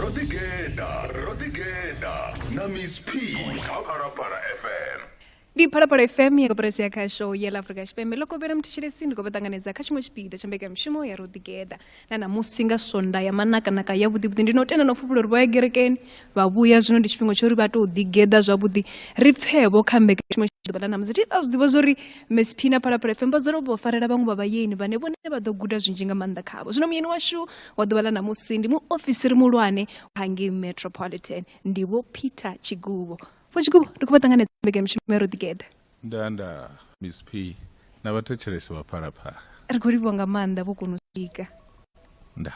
ro ḓigeḓa ro ḓigeḓa na miss p kha phalaphala fm ndi phalaphala fm ya koporasi ya khasho ya la afrika tshipembe ḽo kovhela muthishelesi ndi khou vha ṱanganedza kha tshiṅwe tshipiḓa tsha mbekanyamushumo ya ro ḓigeḓa na namusi nga sonda ya manakanaka ya vhuḓivhuḓi ndi no tenda no fhufhula uri vho ya gerekeni vha vhuya zwino ndi tshifhinga tsho uri vha tou ḓigeḓa zwavhuḓi ri pfevho kha mbekanyamushumo ḓuvha ḽa ṋamusi a zwi ḓivha zwa uri msp na phalaphala fm vha dzula vho farela vhaṅwe vha vhayeni vhane vhone vha ḓo guda zwinzhi nga maanḓa khavho zwino muyeni washu wa ḓuvha ḽa ṋamusi ndi muofisiri muhulwane hangei metropolitan ndi vho peter tshigubo vho tshigubo ri khou vha ṱanganedza mbekanyamushumo ya ro ḓigeḓa nda nda miss p na vhathetshelesi vha phalaphala ri khou livhiwa nga maanḓa vho kona u swika nda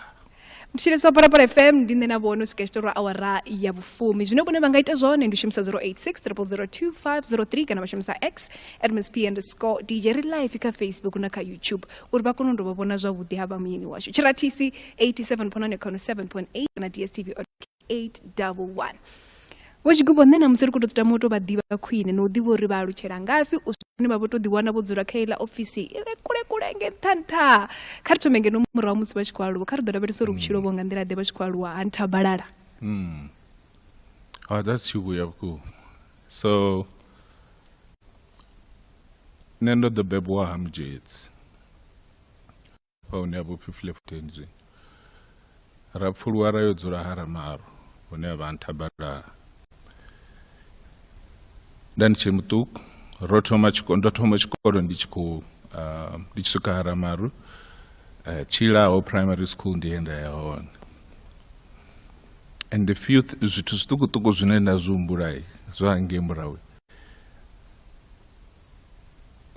mthetshelesi wa phalaphala fm ndi nṋe na vhono swika tshitorwa awara ya vhufumi zwine vhone vha nga ita zwone ndi u shumisa 0860025003 kana vha shumisa x at msp underscore dj ri live kha facebook na kha youtube uri vha kone u dovha vhona zwavhuḓi ha vha muyeni washu tshirathisi 87 phonane khono 7.8 na dstv 811 vho tshigubo nṋe na musi ri khou tou tama u tou vha ḓivha khwine na u ḓivha uri vha alutshela ngafhi u zwine vha vho tou ḓiwana vho dzula kha iḽa ofisi i re kule kule nge nṱha nṱha kha ri thome ngeno murahu musi vha tshi khou aluwa kha ri ḓo lavhelesa uri vhutshilo vho nga nḓila ḓe vha tshi khou aluwa ha nthabalala mm. oh, that's tshivhuya vhukuma so nṋe ndo ḓo bebwa ha mudzhetsi vha hune ha vho pfi fleftenzwi ra pfuluwa ra yo dzula ha ramaro hune ha vha nthabalala nda ndi tshe muṱuku ro thoma tshikolo ndo thoma tshikolo ndi tshi khou ah, ndi tshi swika ha ramaru eh, tshilaho primary school ndi yenda ya hone and the few th- zwithu zwiṱukuṱuku zwine nda zwi humbulai zwa hangei murawe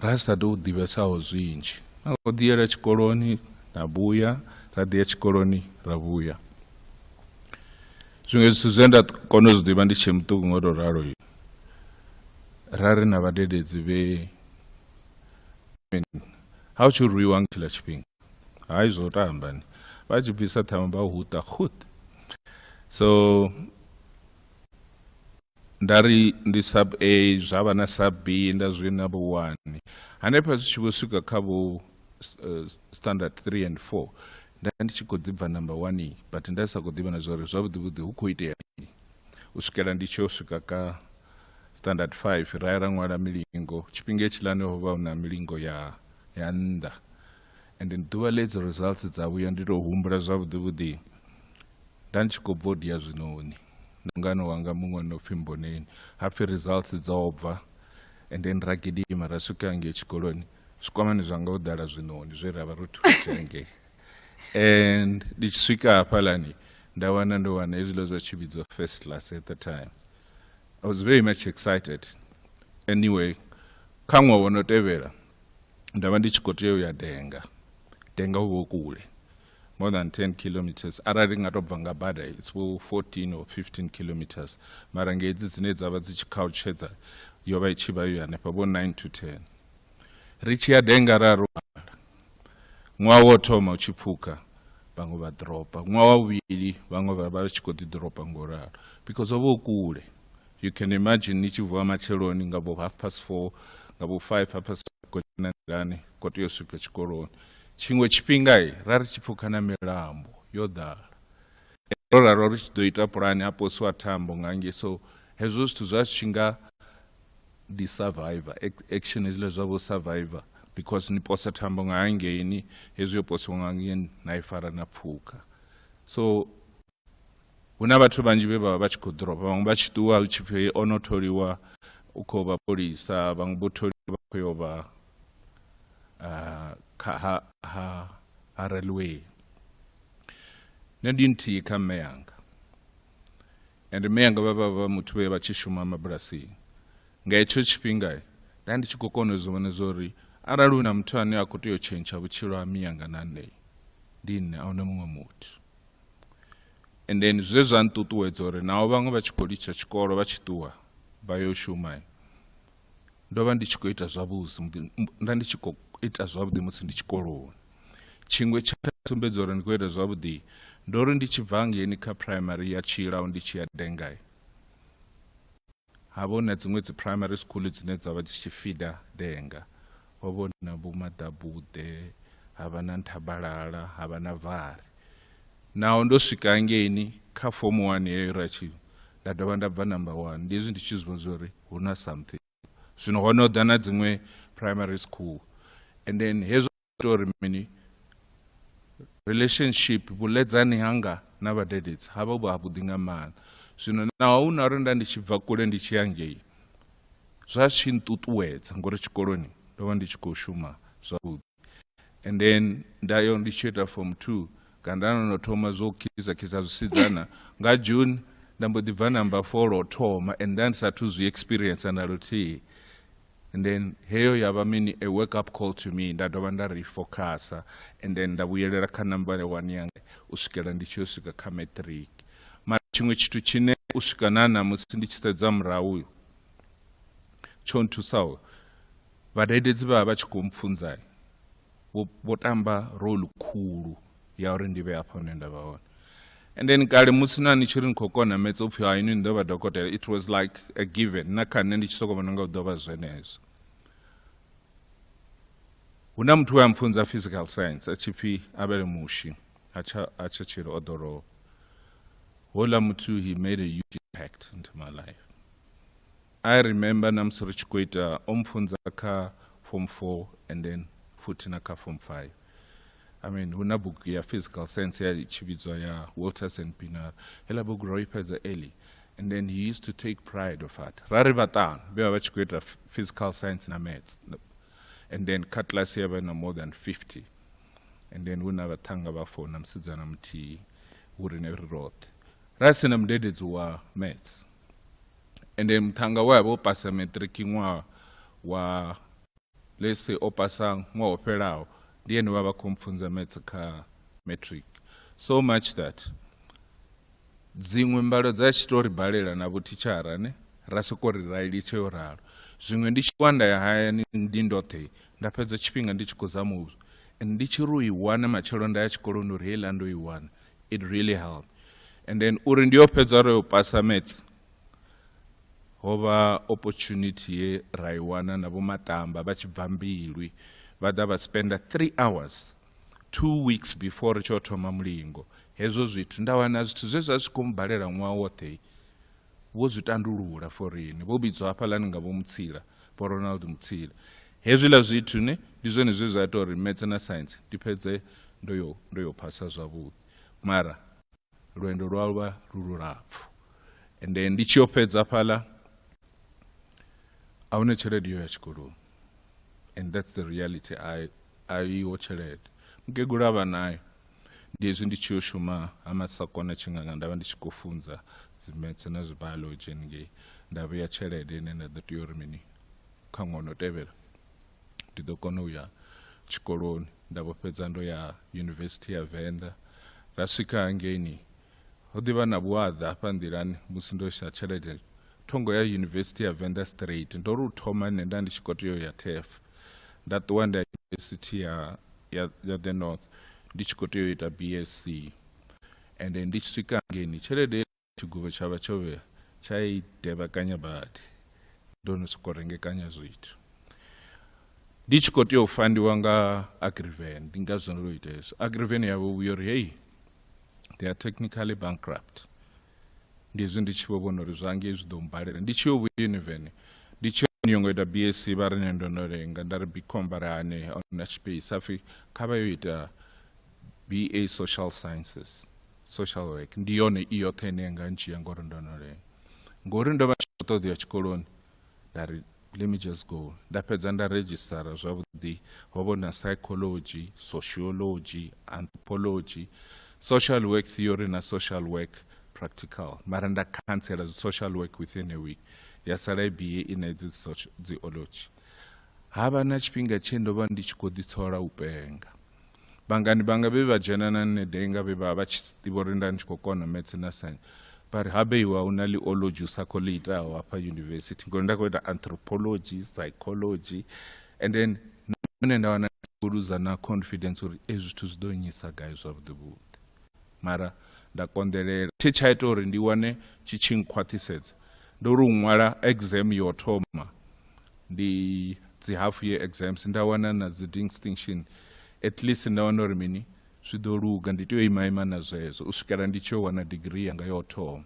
ra sa tou ḓivhesaho zwinzhi na u ḓiyela tshikoloni na vhuya ra ḓiya tshikoloni ra vhuya zwiṅwe zwithu zwe nda kona u zwi ḓivha ndi tshee muṱuku ngo tou ralo ra ri na vhadededzi vhe ha u tshi rwiwa nga tshila tshifhinga hai zwo tambani vha tshi bvisa ṱhama vha huṱa khut so nda ri ndi sub a zwa vha na sub b nda zwi na vho one hanefha zwi tshi vho swika kha vho eh, standard three and four nda ndi tshi khou ḓibva number one but nda sa khou ḓivha na zwa uri zwavhuḓivhuḓi hu khou itea mini u swikela ndi tshi yo swika ka standard five ra ya ra ṅwala milingo tshifhinga hetshilani ho vha hu na milingo ya ya nnḓa and ḓuvha ḽedzo results dza vhuya ndi tou humbula zwavhuḓivhuḓi nda ndi tshi khou bva u dia zwinoni ndi mungana wanga muṅwe no pfhi mboneni hapfhi results dzo bva and then ra gidima ra swika ngei tshikoloni zwikwamani zwanga ho ḓala zwiṋoni zwe ra vha ro thusa ngei and ndi tshi swika hafhalani nda wana ndo wana hezwiḽa zwa tshi vhidzwa first class at the time i was very much excited anyway kha ṅwaha wo no tevhela nda vha ndi tshi khou tea u ya denga denga u vho kule more than 10 kilometers arali nga to bva nga bada it's 14 or 15 kilometers mara nga hedzi dzine dzavha dzi tshi khautshedza yo vha i tshi vha yo hanefha vho 9 to 10 ri tshi ya denga ra ro hala ṅwaha wo thoma u tshi pfuka vhaṅwe vha dropa ṅwaha wa vhuvhili vhaṅwe vha vha tshi khou ḓi dropa ngo ralo because ho vha u kule you can imagine ni tshi vuwa matsheloni nga vho half past four nga vho five half past ko na nḓilani ko tea u swika tshikoloni tshiṅwe tshifhinga i ra ri tshi pfukha na milambo yo ḓala ro raro ri tshi ḓo ita pulani ha posiwa thambo nga nge so hezwo zwithu zwa tshi nga ndi survivor action hezwiḽa zwa vho survivor because ni posa thambo nga hangeini hezwi yo posiwa nga ngeni na i fara na pfuka so hu na vhathu vhanzhi vhe vha vha vha tshi khou ḓoroba vhaṅwe vha tshi ṱuwa hu tshi pfhi o no tholiwa u khou vha polisa vhaṅwe vho tholiwa vha khou yo vha kha ha ha ha railway nṋe ndi nthihi kha mme yanga and mme yanga vha vha vha muthu vhe vha tshi shuma mabulasini nga hetsho tshifhinga nda ndi tshi khou kona u zwi vhona zwa uri arali hu na muthu ane a khou tea u tshentsha vhutshilo ha miyanga na nṋe ndi nṋe a huna muṅwe muthu and then zwe zwa nṱuṱuwedza uri naho vhaṅwe vha tshi khou litsha tshikolo vha tshi ṱuwa vha yo shuma ndo vha ndi tshi khou ita zwavhuḓi nda ndi tshi khou ita zwavhuḓi musi ndi tshikoloni tshiṅwe tsha sumbedza uri ndi khou ita zwavhuḓi ndo ri ndi tshi bva ngeni kha primary ya tshilao ndi tshi ya dengai ha vho na dziṅwe dzi primary school dzine dza vha dzi tshi fida denga ho vho na vho maḓabuḓe ha vha na nthabalala ha vha na vhari naho ndo swika ngeini kha fomu wani yeyo ra tshi nda dovha nda bva number one ndi hezwi ndi tshi zwi vhona uri hu na something zwino ho no ḓa na dziṅwe primary school and then hezwo tori mini relationship vhuledzani hanga na vhadededzi ha vha vhu havhuḓi nga maanḓa zwino naho hu na uri nda ndi tshi bva kule ndi tshi ya ngei zwa tshi nṱuṱuwedza ngori tshikoloni ndo vha ndi tshi khou shuma zwavhuḓi and then nda yo ndi tshi ita form two kana nda no no thoma zwo khisa khisa zwisidzana nga june nda mbo ḓi bva namba four lwo thoma and nda ndi sathu zwi experience na luthihi and then heyo ya vha mini a wake up call to me nda dovha nda refocusa and then nda vhuyelela kha number one yanga u swikela ndi tshi yo swika kha matric mara tshiṅwe tshithu tshine u swika na namusi ndi tshi sedza murahu uyo tsho nthusaho vhadededzi vha vha tshi khou mpfunza vho tamba role khulu ya uri ndi vhe hafha hune nda vha hone and then kale musi na ni tshi ri ni khou kona metsa upfhi ha inwi ni ḓo vha dokotela it was like a given na kha nṋe ndi tshi sokou vhona nga u ḓo vha zwenezwo hu na muthu we a mpfunza physical science a tshi pfhi abele mushi a tsha tshilo o ḓo lovha hola muthu he made a huge impact into my life I remember na musi ri tshi khou ita o mpfunza kha form 4 and then futhi na kha form 5 I mean hu na bugu ya physical science ya tshi vhidzwa ya Walters and Pinar hela bugu ro i fhedza early and then he used to take pride of that ra ri vhaṱanu vhe vha vha tshi khou ita physical science na maths and then kha class ya vha na more than 50 and then hu na vhaṱhanga vha four na musidzana muthihi hu ri ne ri roṱhe ra si na mudededzi wa maths ende muṱhannga we a vha o pasa matric ṅwaha wa lese o pasa ṅwaha o fhelaho ndi ene vha vha khou mpfunza maths kha matric so much that dziṅwe mbalo dza tshi tou ri balela na vhothichara ne ra sokou ri ra litshe yo ralo zwiṅwe ndi tshi wa nda ya hayani ndi ndoṱhe nda fhedza tshifhinga ndi tshi khou zama u and ndi tshi ri u i wana matshelo nda ya tshikoloni uri heiḽa ndo i wana it really helped and then uri ndi yo fhedza ro yo pasa maths ho vha opportunity ye ra i wana na vho matamba vha tshi bva mbilwi vha ḓa vha spenda three hours two weeks before ri tshi yo thoma mulingo hezwo zwithu nda wana zwithu zwe zwa zwi khou mu balela ṅwaha woṱhe vho zwi tandulula for riṋe vho vhidzwa hafhaḽani nga vho mutsila vho ronald mutsila hezwiḽa zwithu ne ndi zwone zwe zwa ita uri metse na science ndi fhedze ndo yo ndo yo phasa zwavhuḓi mara lwendo lwa vha lu lulapfu ende ndi tshi yo fhedza fhaḽa a huna tshelede yo ya tshikoloni and that's the reality a iho tshelede mukegulu a vha nayo ndi hezwi ndi tshi yo shuma ha masakona tshinganga nda vha ndi tshi khou funza dzimetse na zwibiology haningei nda vheya tshelede ine nda ḓo tea uri mini kha ṅwana o tevhela ndi ḓo kona u ya tshikoloni nda vho fhedza ndo ya yunivesithi ya venḓa ra swika hangeini Ho ḓi vha na vhuaḓa hafha nḓilani musi ndo isa tshelede thongo ya yunivesithi ya Venda Straight. Ndo ri u thoma nṋe nda ndi tshi khou tea u ya TEF. Nda ṱuwa nda yunivesithi ya, ya, ya The North ndi tshi khou tea u ita BSc. Ende ndi tshi swika ngeni tshelede tshiguvho tsha vha tsho vhea tsha i tevhekanya badi. Ndo no sokou rengekanya zwithu. Ndi tshi khou tea u fandiwa nga Agriven, ndi ngazwo ndo ita hezwo. Agriven yavho vhuya uri, hei they are technically bankrupt ndi hezwi ndi tshi vho vhona uri zwa ngei zwi ḓo mbalela ndi tshi yo vhuyuniveni ndi tshi yo ngo ita bsc vha ri ne ndo no lenga nda ri bicom vha ri hane na space a pfhi kha vha yo ita ba social sciences social work ndi yone i yoṱhe ine yanga ndzhia ngori ndo no lenga ngori ndo vha tshi khou ṱoḓea tshikoloni nda ri let me just go nda fhedza nda registara zwavhuḓi ho vho na psychology sociology anthropology social work theory na social work practical mara nda khantsela dzi social work within a week ya sala ibie i na idzi dziology ha vha na tshifhinga tshe ndo vha ndi tshi khou ḓitsola u penga vhangani vhanga vhe vha dzhena na nṋe dai nga vhe vha vha tshi ḓivha uri nda ndi tshi khou kona maths na science vha ri habe iwe a una liology u sa khou ḽi itaho hafha yunivesithi ngori nda khou ita anthropology psychology and then nṋe nda wana khou luza na confidence uri ezwi zwithu zwi ḓo nyisa gai zwavhuḓi vhuḓi mara nda konḓelela tshe tsha ita uri ndi wane tshi tshi nkhwaṱhisedza ndo ri u ṅwala exam yo thoma ndi dzi half year exams nda wana na dzi distinction at least nda wana uri mini zwi ḓo luga ndi tea u ima ima na zwezwo u swikela ndi tshi yo wana degree yanga yo thoma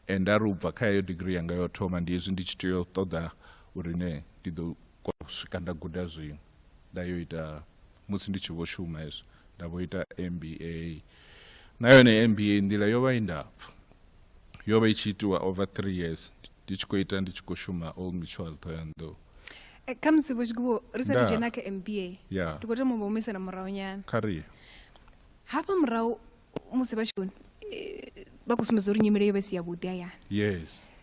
and ari u bva kha heyo degree yanga yo thoma ndi hezwi ndi tshi tea u ṱoḓa uri ne ndi ḓo kona u swika nda guda zwiṅwe nda yo ita musi ndi tshi vho shuma hezwo nda vho ita mba na yone mba nḓila yo vha i ndapfu yo vha i tshi itiwa over three years ndi tshi khou ita ndi tshi khou shuma o ngitshual thoyandou eh, khamusi vho tshikubo ri sa dzhena kha mba ndi khou tama u vha humisela murahu nyana kha ri hafha murahu musi vha tshikoni eh, vha khou sumbedza uri nyimele yo vha si yavhuḓi hayani yes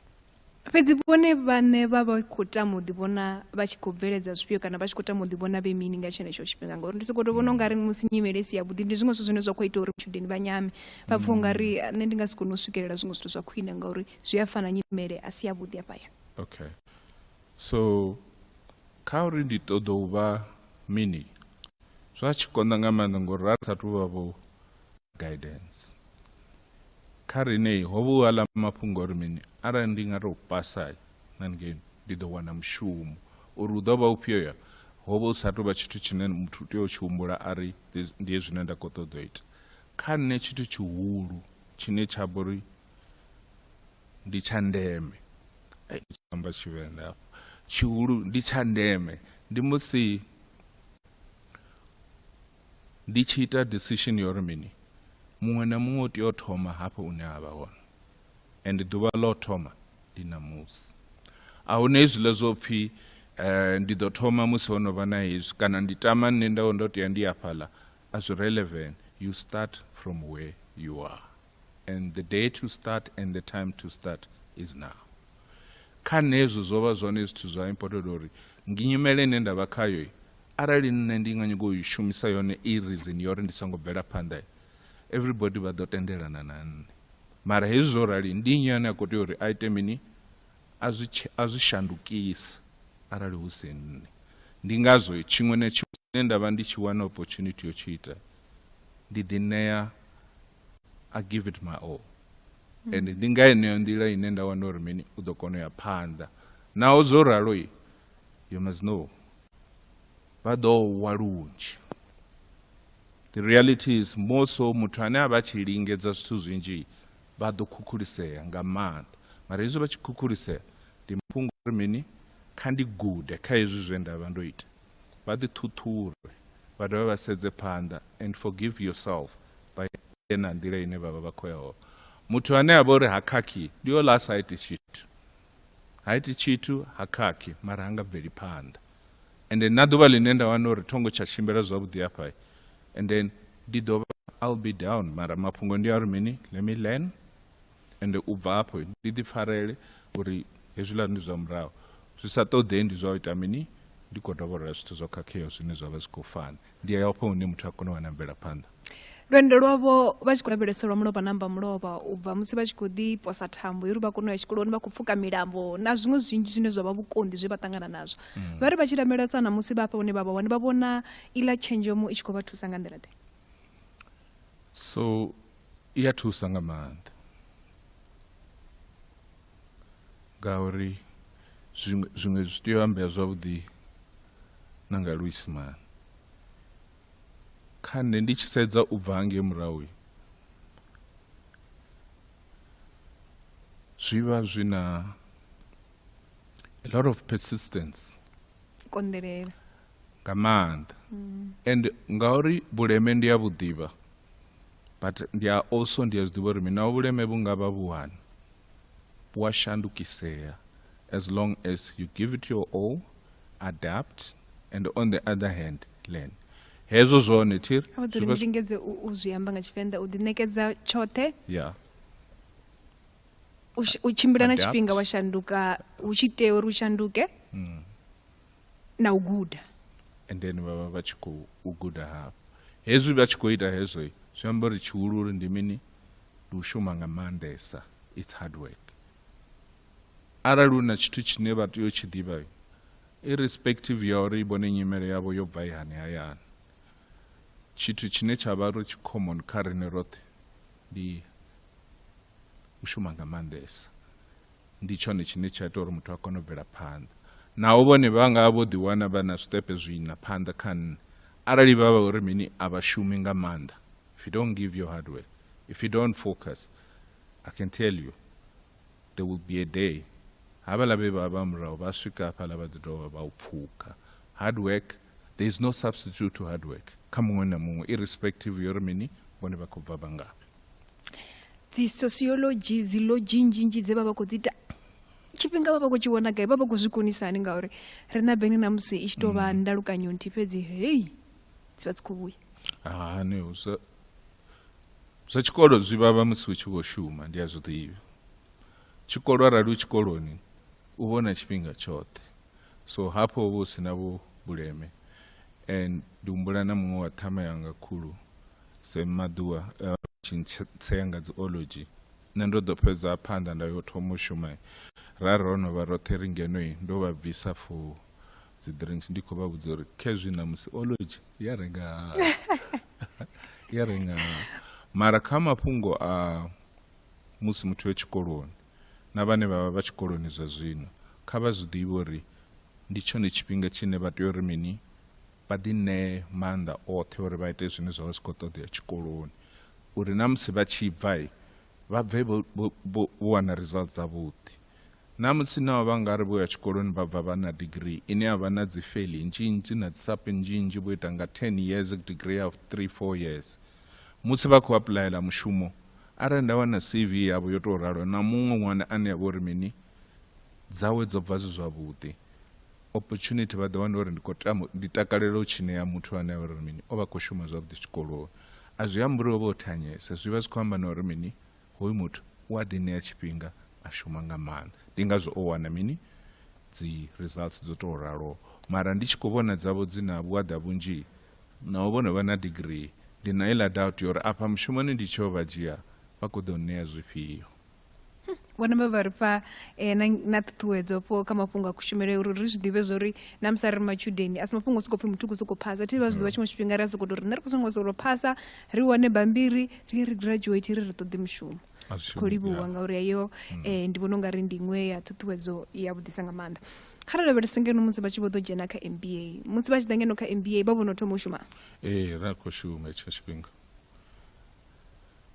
fhedzi vhone vhane vha vha khou tama u ḓivhona vha tshi khou bveledza zwifhio kana vha tshi khou tama u ḓivhona vhe mini nga tshenetsho tshifhinga ngauri ndi sokou tou vhona u nga ri musi nyimele si yavhuḓi ndi zwiṅwe zwithu zwine zwa khou ita uri matshudeni vha nyame vha pfha u nga ri nṋe ndi nga si kone u swikelela zwiṅwe zwithu zwa khwine ngauri zwi a fana nyimele a si yavhuḓi afha ya okay so kha uri ndi ṱoḓa u vha mini zwa tshi konḓa nga maanḓa ngori ra sa thu vha vho guidance kha riṋe ho vha u aḽa mafhungo uri mini arali ndi nga tou pasa na ngei ndi ḓo wana mushumo uri u ḓo vha ufhio ya ho vha u sa tou vha tshithu tshine muthu u tea u tshi humbula a ri ndi zwine nda khou ṱoḓa u ita kha nṋe tshithu tshihulu tshine tsha vha uri ndi tsha ndeme amba tshivenḓa afho tshihulu ndi tsha ndeme ndi musi ndi tshi ita decision yo ri mini muṅwe na muṅwe u tea u thoma hafho une a vha hone and ḓuvha ḽo thoma ndi ṋamusi a huna hezwiḽa zwo pfhi um ndi ḓo thoma musi ho no vha na hezwi kana ndi tama nṋe ndo ndo tea ndi afhaḽa a zwi relevant you start from where you are and the day to start and the time to start is now kha nṋe hezwo zwo vha zwone zwithu zwa important uri nginyumele ine nda vha khayo arali nṋe ndi nga nyago u i shumisa yone i reason yo uri ndi songo bvela phanḓa everybody vha ḓo tendelana na nṋe mara hezwi zwo rali ndi nnyi ane a khou tea uri a ite mini a zwi shandukisa arali hu si nṋe ndi ngazwo tshiṅwe na tshiṅwe tshine nda vha ndi tshi wana opportunity yo tshi ita ndi ḓi ṋea I give it my all mm. and ndi nga yeneyo nḓila ine nda wana uri mini u ḓo kona u ya phanḓa naho zwo ralo i you must know vha ḓo wa lunzhi the reality is more so muthu ane a vha tshi lingedza zwithu zwinzhi vha ḓo khukhulisea nga maanḓa mara hezwi vha tshi khukhulisea ndi mafhungo uri mini kha ndi gude kha hezwi zwe nda vha ndo ita vha ḓi ṱhuṱhure vha dovha vha sedze phanḓa and forgive yourself vha ye na nḓila ine vhavha vha khou yaho muthu ane a vha uri ha khakhi ndi o lasa ha iti tshithu ha iti tshithu ha khakhi mara ha nga bveli phanḓa and then na ḓuvha ḽine nda wana uri thongo tsha tshimbila zwavhuḓi hafha and then ndi ḓo vha i'll be down mara mafhungo ndi a uri mini let me learn ende u bva afho ndi ḓi pfarele uri hezwiḽa ndi zwa murahu zwi sa ṱoḓei ndi zwa u ita mini ndi khou dovholola zwithu zwo khakheaho zwine zwa vha zwi khou fana ndi ya afho hune muthu a kone u wana mvelaphanḓa lwendo lwavho vha tshi khou lavhelesa lwa mulovha namba mulovha u bva musi vha tshi khou ḓi posa thambo uri vha kone u ya tshikoloni vha khou pfuka milambo na zwiṅwe zwinzhi zwine zwa vha vhukonḓi zwe vha ṱangana nazwo mm. vha ri vha tshi lamelesa na musi vha hafha hune vha vha hone vha vhona iḽa tshenzhemo i tshi khou vha thusa nga nḓila ḓe so i ya thusa nga maanḓa ngauri zwiṅwe zwiṅwe zwi tea u ambea zwavhuḓi na nga luisimane kha nṋe ndi tshi sedza u bva hangei murahu zwi vha zwi na a lot of persistence konḓelela nga maanḓa mm. and ngauri vhuleme ndi a vhu ḓivha but ndi a also ndi a zwi ḓivha uri mina vhuleme vhu nga vha vhuhani vhu a shandukisea as long as you give it your all adapt and on the other hand learn hezwo zwone thiri a ḓo ri ndi lingedze u zwi amba nga tshivenḓa u ḓiṋekedza tshoṱhe ya u tshimbila na tshifhinga wa shanduka hu tshi tea uri u shanduke mm. na u guda and then vha vha vha tshi khou guda hafho hezwi vha tshi khou ita hezwo zwi amba uri tshihulu uri ndi mini ndi u shuma nga maanḓesa its hard work arali u na tshithu tshine vha tea u tshi ḓivha irrespective ya uri i vhone nyimele yavho yo bva ihani hayani tshithu tshine tsha vha ri tshi common kha rine roṱhe ndi u shuma nga maanḓesa Ndi tshone tshine tsha ita uri muthu a kone u bvela phanḓa. Naho vhone vha nga vha vho ḓiwana vha na zwiṱepe zwiṋa phanḓa kha nṋe, arali vha vha uri mini a vha shumi nga maanḓa, if you don't give your hard work, if you don't focus, I can tell you there will be a day havhala vhe vha vha murahu vha swika hafhala vha ḓi dovha vha u pfuka. Hard work, there is no substitute to hard work kha muṅwe na muṅwe irrespective yori mini vhone vha khou bva vha ngafhi. dzi sociology dzi lodzhi nnzhi nnzhi dze vha vha khou dzi ita tshifhinga vha vha khou tshi vhona gai vha vha khou zwi konisa hani ngauri ri na bengni na musi i tshi tou vha mm. ndalukanyo nthihi fhedzi hei dzi vha dzi khou vhuya hani zwa zwa tshikolo zwi vhavha musi u tshi vho shuma ndi a zwi ḓivha tshikolo arali u tshikoloni u vhona tshifhinga tshoṱhe so hafho vho si na vho vhuleme and ndi humbula na muṅwe wa ṱhama yanga khulu Sam Maḓuwa uh, tshintsenga dzi ology nṋe ndo ḓo fhedza phanḓa nda yo thoma u shuma ra ro no vha roṱhe ri ngenoi ndo vha bvisa for dzi drinks ndi khou vha vhudza uri khezwi na musi ology ya renga ya renga mara kha mafhungo a musi muthu e tshikoloni na vhane vha vha vha tshikoloni zwa zwino kha vha zwi ḓivhe uri ndi tshone tshifhinga tshine vha tea uri mini vha ḓi ṋee maanḓa oṱhe uri vha ite zwine zwa vha zwi khou ṱoḓea tshikoloni uri na musi vha tshi bva vha bve vho wana results dzavhuḓi na musi nao vha nga ri vho ya tshikoloni vha bva vha na degree ine ya vha na dzi fail nnzhi nnzhi na dzi sape nnzhi nnzhi vho ita nga 10 years degree ya 3 4 years musi vha khou apulayela mushumo arali nda wana cv yavho yo tou ralo na muṅwe ṅwana ane ya vha uri mini dzawe dzo bva zwi zwavhuḓi opportunity vha ḓo wana uri ndi khou tama ndi takalela u tshi ṋea muthu ane a uri mini o vha khou shuma zwavhuḓi tshikoloni a zwi ambi uri o vha o thanyesa zwi vha zwi khou amba na uri mini hoyu muthu u a ḓi ṋea tshifhinga a shuma nga maanḓa ndi ngazwo o wana mini dzi results dzo tou raloho mara ndi tshi khou vhona dzavho dzi na vhuaḓa vhunzhi naho vho no vha na degree ndi na iḽa doubt ya uri afha mushumoni ndi tsheo vha dzhia vha khou ḓo ṋea zwifhio vhone vha vha ri fha um na ṱhuṱhuwedzo fho kha mafhungo a kushumele uri ri zwi ḓivhe zwa uri na musi a ri matshudeni a si mafhungo o sokou pfhi muthu u khou sokou phasa thi vha zwi ḓivha mm. tshiṅwe tshifhinga ri a sokou to ri nṋe ri khou songo sokou phasa ri wane bambiri ri ye ri graduate ri ri ṱoḓi mushumo ri khou livhuwa ngauri heyo um ndi vhona u nga ri ndi iṅwe ya ṱhuṱhuwedzo ya vhudisa nga maanḓa kha ri lavhelese ngeno musi vha tshi vho ḓo dzhena kha m b a musi vha tshi ḓa ngeno kha m b a vha vhono thoma u shuma ee ra khou shuma hetsho tshifhinga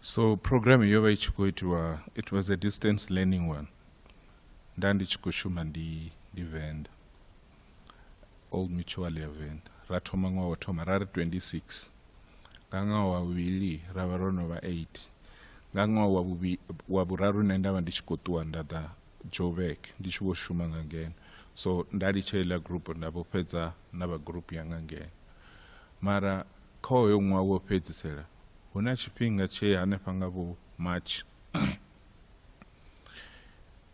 so program yo vha i tshi khou itiwa it was a distance learning one nda ndi tshi khou shuma ndi ndi venda old mutual ya venda ra thoma ṅwaha wa thoma ra ri 26 nga ṅwaha wa vhuvhili ra vha ro no vha 8 nga ṅwaha wa wa vhuraru nṋe nda vha ndi tshi khou ṱuwa nda ḓa joburg ndi tshi vho shuma nga ngeno so nda litsha iḽa group nda vho fhedza na vha group yanga ngeno mara Kha hoyo ṅwaha wo fhedzisela, hu na tshifhinga tshe hanefha nga vho March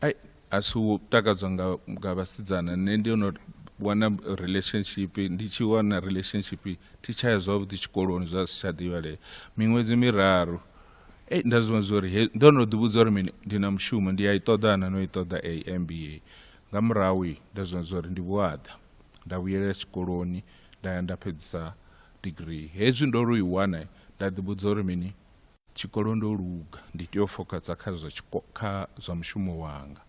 ai a si u takadzwa nga, nga vhasidzana nṋe ndi no wana relationship ndi tshi wana relationship thi tsha ya zwavhuḓi tshikoloni zwa si tsha ḓivhalea miṅwedzi miraru ei nda zwi vhona zwa uri ndo no ḓivhudza uri mini ndi na mushumo ndi a i ṱoḓa na no i ṱoḓa a mba nga murahu nda zwi vhona zwa uri ndi vhuaḓa nda vhuyelela tshikoloni nda ya nda fhedzisa degree hezwi ndo ri u i wana nda ḓivhudza uri mini tshikolo ndo luga ndi tea u fokatsa kha zwa kha zwa mushumo wanga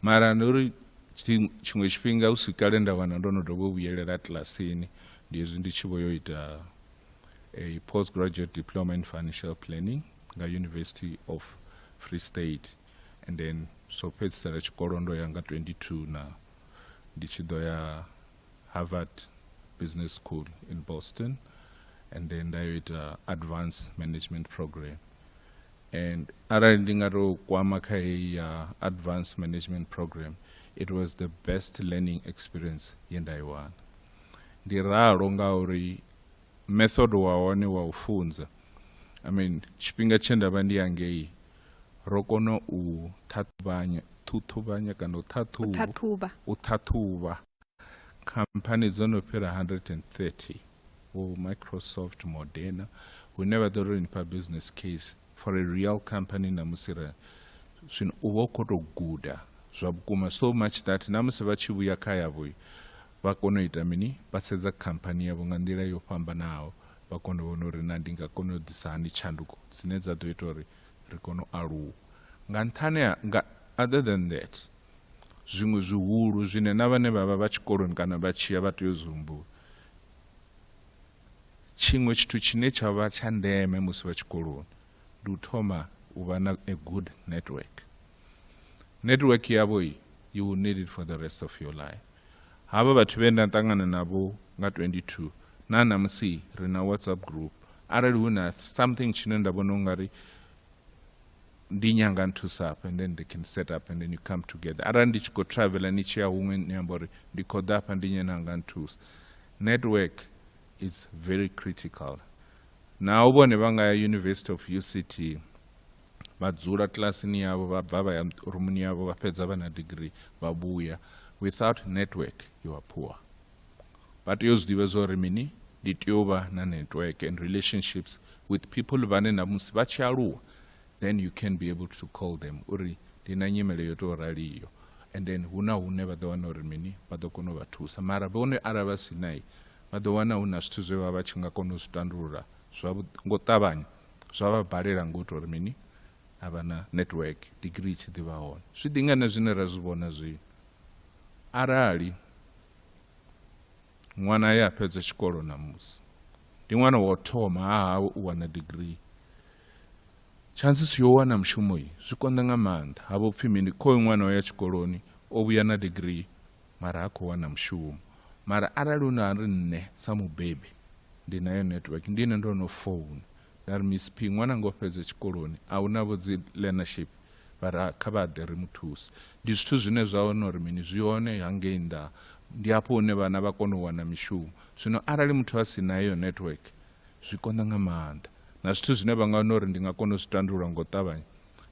mara ndi uri tshiṅwe tshifhinga hu si kale nda wana ndo no dovha u vhuyelela kilasini ndi hezwi ndi tshi vho yo ita a post graduate diploma in financial planning nga university of free state and then so fhedzisela tshikolo ndo ya nga 22 na ndi tshi ḓo ya Harvard Business School in Boston and then nda yo ita advance management program and arali ndi nga tou kwama kha heyi ya advance management program it was the best learning experience ye nda i wana ndi ralo ngauri method wa hone wa u funza i mean tshifhinga tshe nda vha ndi yangei ro kona u ṱhaṱhuvhanya ṱhuṱhuvhanya kana u ṱhaṱhuvha u ṱhaṱhuvha khamphani dzo no fhira 130 vho microsoft moderna hune vha ḓo ri nifha business case for a real company na musi ra zwino u vha u khou tou guda zwa vhukuma so much that na musi vha tshi vhuya kha yavho Vha kona u ita mini? Vha sedza khamphani yavho nga nḓila yo fhambanaho, vha kona u vhona uri na ndi nga kona u ḓisa hani tshanduko dzine dza ḓo ita uri ri kone u aluwa. Nga nṱhani ha, nga, other than that, zwiṅwe zwihulu zwine na vhane vha vha vha tshikoloni kana vha tshi ya vha tea u zwi humbula, tshiṅwe tshithu tshine tsha vha tsha ndeme musi vha tshikoloni, ndi u thoma u vha na a good network network yavho i you will need it for the rest of your life havha vhathu vhe nda ṱangana navho nga 22 na namusi ri na whatsapp group arali hu na something tshine nda vhona ungari ndi nyanga nthusa hafha and then they can set up and then you come together arali ndi tshi khou travela ni tshi ya huṅwe ni amba uri ndi khou ḓa hafha ndi nyena nga nthusa network is very critical Naho vhone vha nga ya University of UCT vha dzula kilasini yavho vha bva vha ya rumuni yavho vha fhedza vha na degree vha vhuya without network you are poor vha tea u zwi ḓivha zwo ri mini ndi tea u vha na network and relationships with people vhane na musi vha tshi aluwa then you can be able to call them uri ndi na nyimele yo tou raliyo and then hu na hune vha ḓo wana uri mini vha ḓo kona u vha thusa mara vhone arali vha si nayi Vha ḓo wana hu na zwithu zwe vha vha tshi nga kona u zwi tandulula zwavhuḓi ngo ṱavhanya, zwa vha balela ngo tou ri mini, a vha na network, digirii i tshi ḓi vha hone. Zwi ḓi nga na zwine ra zwi vhona zwino. Arali ṅwana ye a fhedza tshikolo ṋamusi ndi ṅwana wa u thoma ha hawe u wana digirii, chances yo wana mushumo zwi konḓa nga maanḓa. Ha vho pfi mini, khoyu ṅwana o ya tshikoloni, o vhuya na digirii. mara ha khou wana mushumo mara arali hu na ri nṋe sa mubebi ndi nayo network ndi ine ndo no founa nda ri miss p ṅwana ngo fhedza tshikoloni a hu navho dzi learnership vhara kha vha ḓe ri mu thuse ndi zwithu zwine zwa hone uri mini zwi hone hangei nnḓa ndi hafho hune vhana vha kona u wana mishumo zwino arali muthu a si nayo network zwi konḓa nga maanḓa na zwithu zwine vha nga wana uri ndi nga kona u zwi tandulula ngo ṱavhanya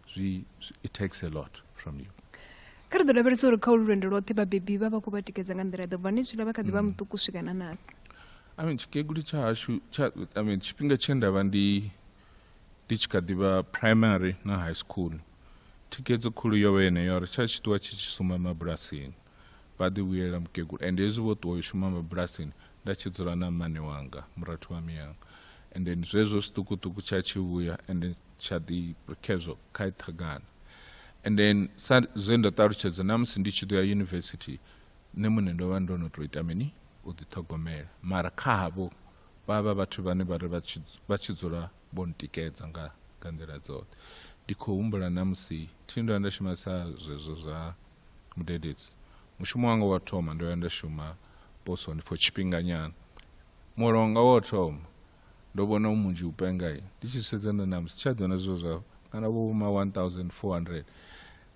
zwi it takes a lot from you kha ri ḓo lavhelesa uri kha ulu lwendo lwoṱhe vhabebi vha vha khou vha tikedza nga nḓila ḓo bva ni zwila vha kha ḓi vha mm. muṱuku swika na nasi i mean tshikegulu tsha hashu tsha i mean tshifhinga tshe nda vha ndi ndi tshi kha ḓi vha primary na high school thikedzo khulu yo vha yeneyo ri tsha tshi ṱuwa tshi tshi suma mabulasini vha ḓi vhuyela mukegulu and hezwi vho ṱuwa yo shuma mabulasini nda tshi dzula na mmane wanga murathu wa miyanga and then zwezwo zwiṱukuṱuku tsha tshi vhuya and then tsha ḓi khezwo kha iṱhagana and then sa zwe ndo ṱalutshedza na musi ndi tshi ḓo ya yunivesithi nṋe muṋe ndo vha ndo no tou ita mini u ḓiṱhogomela mara kha havho vha vha vhathu vhane vha ri vha tshi dzula vho ntikedza nga nga nḓila dzoṱhe ndi khou humbula na musi thi ndo nda shumisa zwezwo zwa mudededzi mushumo wanga wa thoma ndo ya nda shuma posoni for tshifhinganyana muholo wanga wa thoma ndo vhona munzhi u penga ndi tshi sedza ndo namusi tsha ḓona zwo zwa kana vho vhoma 1400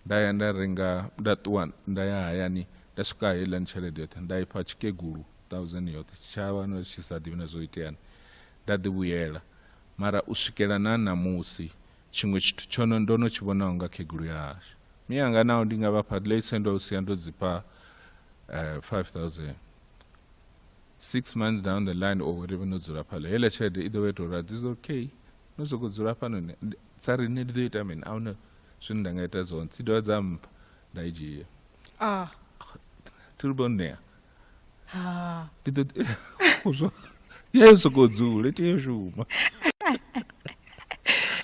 nda ya nda renga nda ṱuwa nda ya hayani nda swika heiḽani tshelede yoṱhe nda ifha tshikegulu 1000 yoṱhe tshitshavha no tshi sa ḓivhi na zwo iteani nda ḓivhuyela mara u swikela na ṋamusi Tshiṅwe tshithu tsho no ndo no tshi vhonaho nga khegulu ya hashu miyanga naho ndi nga vha fha ḽei sendo u sia ndo dzipha eh, 5000 six months down the line or whatever no dzula phala heiḽa tshelede i ḓo vha ita uri this is okay no sokou dzula fhano ne ndi- dza ri nṋe ndi ḓo ita mini a huna zwine nda nga ita zwone dzi dovha dza mpha nda i dzhia ah tilbonea ha ndi ḓo tea u zwa ya yo sokou dzula i tea u shuma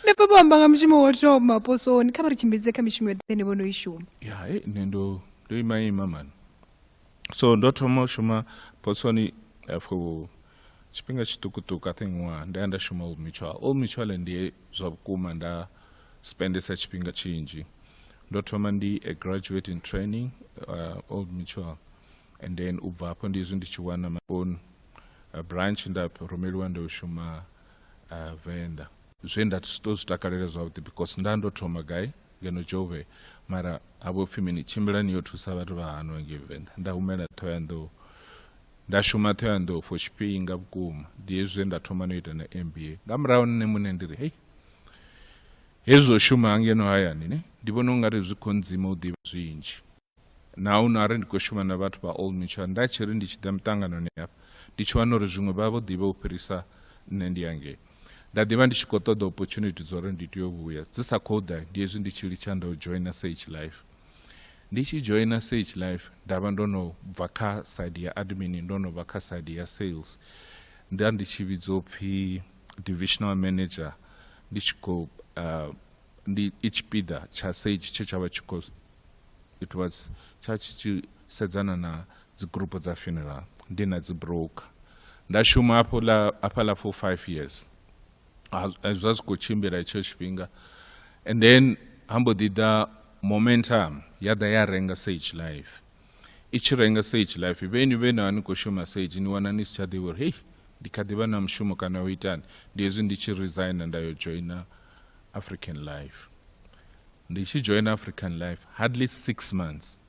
nda papa u amba nga mushumo wo thoma posoni kha vha ri tshimbidze kha mishumo yoṱhe ine vho no i shuma ya he nṋe ndo ndo ima ima mani so ndo thoma u shuma posoni eh, for tshifhinga tshiṱukuṱuku i think ṅwaha nda ya nda shuma old mutual old mutual ndiye zwa vhukuma nda spendesa tshifhinga tshinzhi ndo thoma ndi a graduate in training uh, old mutual and then u bva hafho ndizwi ndi tshi wana my own uh, branch nda rumeliwa ndo shuma uh, venḓa zwe nda to zwi takalela zwavhuḓi because nda ndo thoma gai ngeno jove mara havho pfhi mini tshimbilani yo thusa vhathu vha hano ngei venḓa nda humela thoyandou nda shuma thoyandou for tshifhinga vhukuma ndi hezwi nda thoma no ita na mba nga murahu nṋe muṋe ndi ri hei hezwi o shuma hangeno hayani ne ndi vhona ungari zwi kho ndzima u ḓivha zwinzhi na u nari ndi khou shuma na vhathu vha old mutual nda tshi ri ndi tshi ḓa miṱanganoni hafha ndi tshi wana uri zwiṅwe vha vho ḓivha u fhirisa nṋe ndi yangei nda ḓivha ndi tshi khou ṱoḓa opportunity dza uri ndi tea u vhuya dzi sa khou ḓa ndi hezwi ndi tshi litsha nda u joina sage life ndi tshi joina sage life nda vha ndo no bva kha side ya admin ndo no vha kha side ya sales nda ndi tshi vhidzo pfhi divisional manager ndi tshi khou uh, ndi i tshipiḓa tsha sage tshe tsha vha tshi khou it was tsha tshi tshi sedzana na dzigurupu dza funeral ndi na dzi broker nda shuma hafho la hafha la for five years eh, zwa zwi khou tshimbila itsho tshifhinga and then hambo ḓi ḓa momentum ya ḓa ya renga sage life i tshi renga sage life vheni vhe na ni khou shuma sage ni wana ni si tsha ḓivha uri hei ndi kha ḓi vha na mushumo kana o itani ndi hezwi ndi tshi resigna nda yo joina african life ndi tshi joina african life hardly six months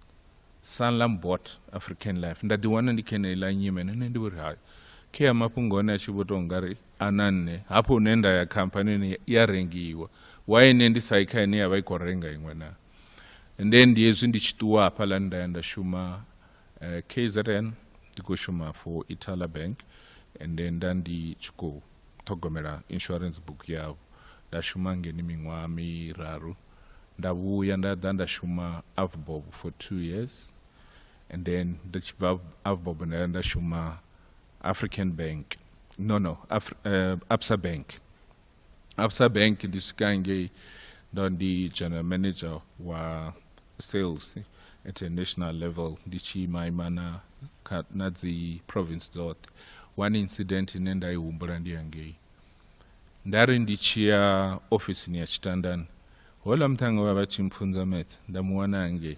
sanlam bot african life nda ḓiwana ndi kha eneiḽa nyime nene ndi vhori hai khe ya mafhungo one a tshi vho tou nga ri a na nṋe hafho hune nda ya khamphani ine ya rengiwa wa ine ndi sai kha ine ya vha i khou renga iṅwe naa and then ndi hezwi ndi tshi ṱuwa hafhaḽa nda ya nda shuma uh, eh, kzn ndi khou shuma for itala bank and then nda ndi tshi khou ṱhogomela insurance book yavho nda shuma ngeni miṅwaha miraru nda vhuya nda ḓa nda shuma avbob for two years and then nda tshi bva avbob nda nda shuma african bank no no Af uh, eh, absa bank absa bank ndi swika ngei ndo ndi general manager wa sales at a national level ndi tshi imaima na, kha- na dzi province dzoṱhe one incident ine nda i humbula ndi yangei nda ri ndi tshi ya ofisini ya tshitandani hola muṱhannga vha vha tshi mpfunza metse nda mu wana hangei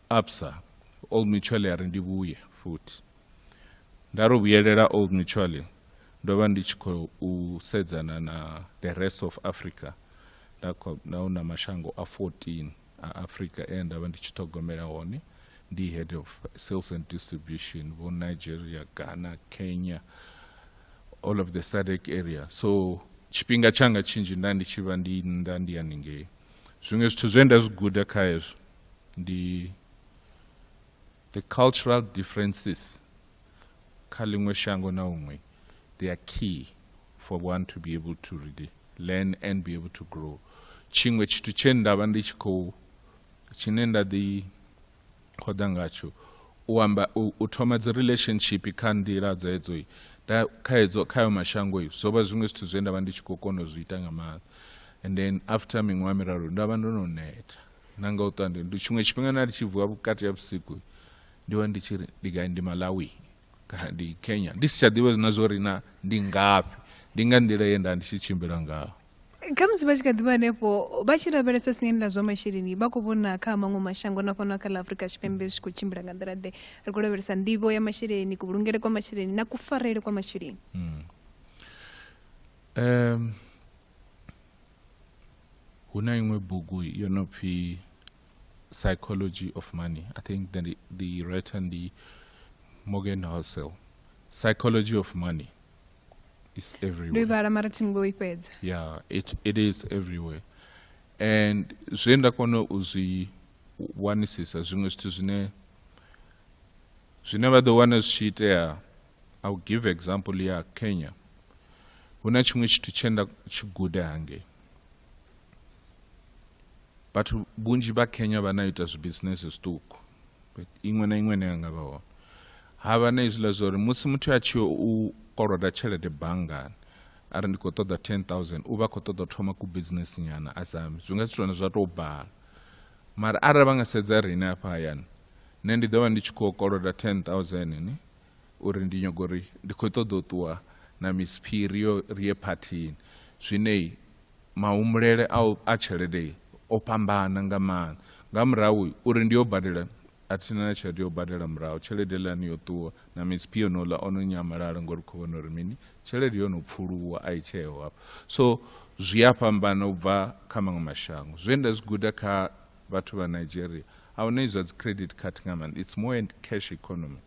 absa old mutual ya ri ndi vhuye futhi nda ro vhuyelela old mutual ndo vha ndi tshi khou sedzana na the rest of africa nda hu na mashango a 14 a africa e nda vha ndi tshi ṱhogomela hone ndi head of sales and distribution vho nigeria ghana kenya all of the sadec area so tshifhinga tshanga tshinzhi nda ndi tshi vha ndi nnḓa ndi haningei zwiṅwe zwithu zwe nda zwi guda kha hezwo ndi the cultural differences kha ḽiṅwe shango na huṅwe they are key for one to be able to really learn and be able to grow tshiṅwe tshithu tshe nda vha ndi tshi khou tshine nda ḓi khoḓa ngatsho u amba u thoma dzi relationship kha nḓila dza edzo kha edzo kha yo mashango i zwo vha zwiṅwe zwithu zwe nda vha ndi tshi khou kona u zwi ita nga maanḓa and then after miṅwaha miraru nda vha ndo no neta na nga u ṱwa ndi tshiṅwe tshifhinga na ndi tshi vuwa vhukati ha vhusiku ndi vha ndi tshi ri ndi gai ndi malawi kana ndi kenya ndi si tsha ḓivha zwina zwo ri na ndi ngafhi ndi nga nḓila ye nda ndi tshi tshimbila ngaho khamusi vha tshi kha ḓivha hanefho vha tshi lavhelesa siani ḽa zwa masheleni vha khou vhona kha maṅwe mashango na fhano kha ḽa afurika tshipembe zwi khou tshimbila nga nḓila ḓe ri khou lavhelesa nḓivho ya masheleni kuvhulungele kwa masheleni na kufarele kwa masheleni um hu na iṅwe bugu yo no pfhi psychology of money i think the, the writer ndi morgan housel psychology of money is everywhere mara thi ngo i fhedza yeah it, it is everywhere and zwe nda kona u zwi wanisisa zwiṅwe zwithu zwine zwine vha ḓo wana zwi tshi itea i will give example ya kenya hu na tshiṅwe tshithu tshe nda tshi guda hangei vhathu vhunzhi vha kenya vha na ita zwibisinese zwiṱuku iṅwe na iṅwe ine ya nga vha hone ha vha na izwiḽa zwa uri musi muthu a tshi u koloda tshelede banngani a ri ndi khou ṱoḓa 10000 u vha khou ṱoḓa thoma ku bisinesi nyana a sami zwi nga si tone zwa tou bala mara arali vha nga sedza riṋe afha hayani nṋe ndi ḓo vha ndi tshi khou koloda 10000 ni uri ndi nyago uri ndi khou ṱoḓa u ṱuwa na Miss P ri yo ri ye phathini zwine mahumbulele a a tshelede o fhambana nga maanḓa nga murahu uri ndi yo badela a thi na tshelede yo badela murahu tshelede lani yo ṱuwa na Miss P yonola ono nyamalala ngori khou vhona uri mini tshelede yo no pfuluwa a i tsheo hafha so zwi a fhambana u bva kha maṅwe mashango zwe nda zwi guda kha vhathu vha Nigeria a hu na izwa dzi credit card nga maanḓa it's more and cash economy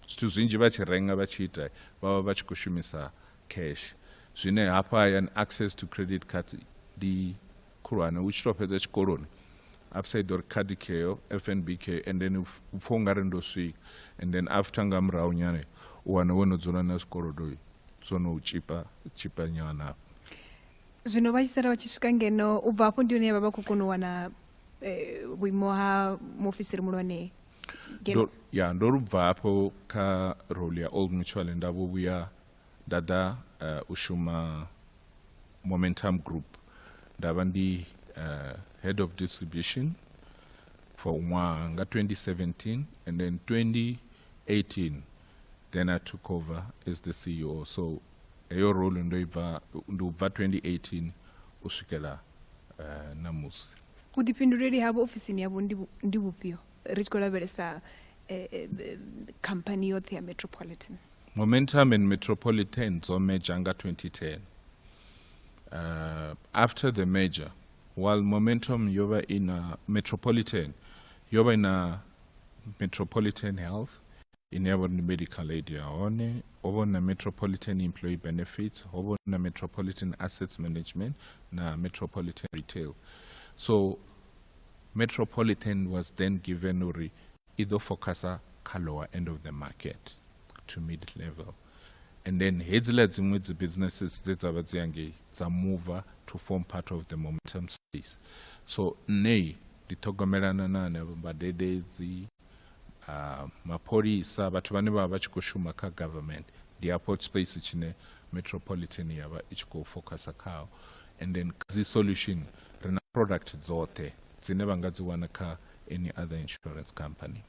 zwithu zwinzhi vha tshi renga vha tshi ita vha vha vha tshi khou shumisa cash zwine hafha hayani access to credit card ndi khulwane u tshi tou fhedza tshikoloni upside or card kheyo fnb kheyo and then u pfha u nga ri ndo swika and then after nga murahu nyane u wana wo no dzula na zwikolodo zwo no u tshipa tshipa nyana zwino vha tshi sala vha tshi swika ngeno u bva hafho ndi hone vha vha khou kona u wana eh, vhuimo ha muofisiri muhulwane ngeno Ndo- ya ndo lu bva hafho kha role ya old mutual nda vho vhuya nda ḓa eh, u shuma momentum group nda vha ndi eh, head of distribution for ṅwaha nga 2017 and then 2018 then i took over as the ceo so heyo role ndo ibva ndi ubva 2018 u swikela uh, eh, namusi vhuḓifhinduleli havho ofisini yavho ndi vhufhio ri tshi khou lavhelesa eh, eh, khamphani yoṱhe ya metropolitan momentum and metropolitan dzo meja nga 2010 uh, after the major while momentum yo vha i na metropolitan yo vha i na metropolitan health ine ya vha uri ndi medical aid ya hone ho vha na metropolitan employee benefits ho vha na metropolitan assets management na metropolitan retail so metropolitan was then given uri i ḓo focusa kha lower end of the market to mid level and then hedziḽa dziṅwe dzi businesses dze dza vha dzi yangei dza mover to form part of the momentum space so nṋei ndi ṱhogomelana na hanevho mbadededzi uh, mapholisa vhathu vhane vha vha tshi khou shuma kha government ndi airport space tshine metropolitan ya vha i tshi khou focusa khao and then dzi solution ri na product dzoṱhe dzine vha nga dzi wana kha any other insurance company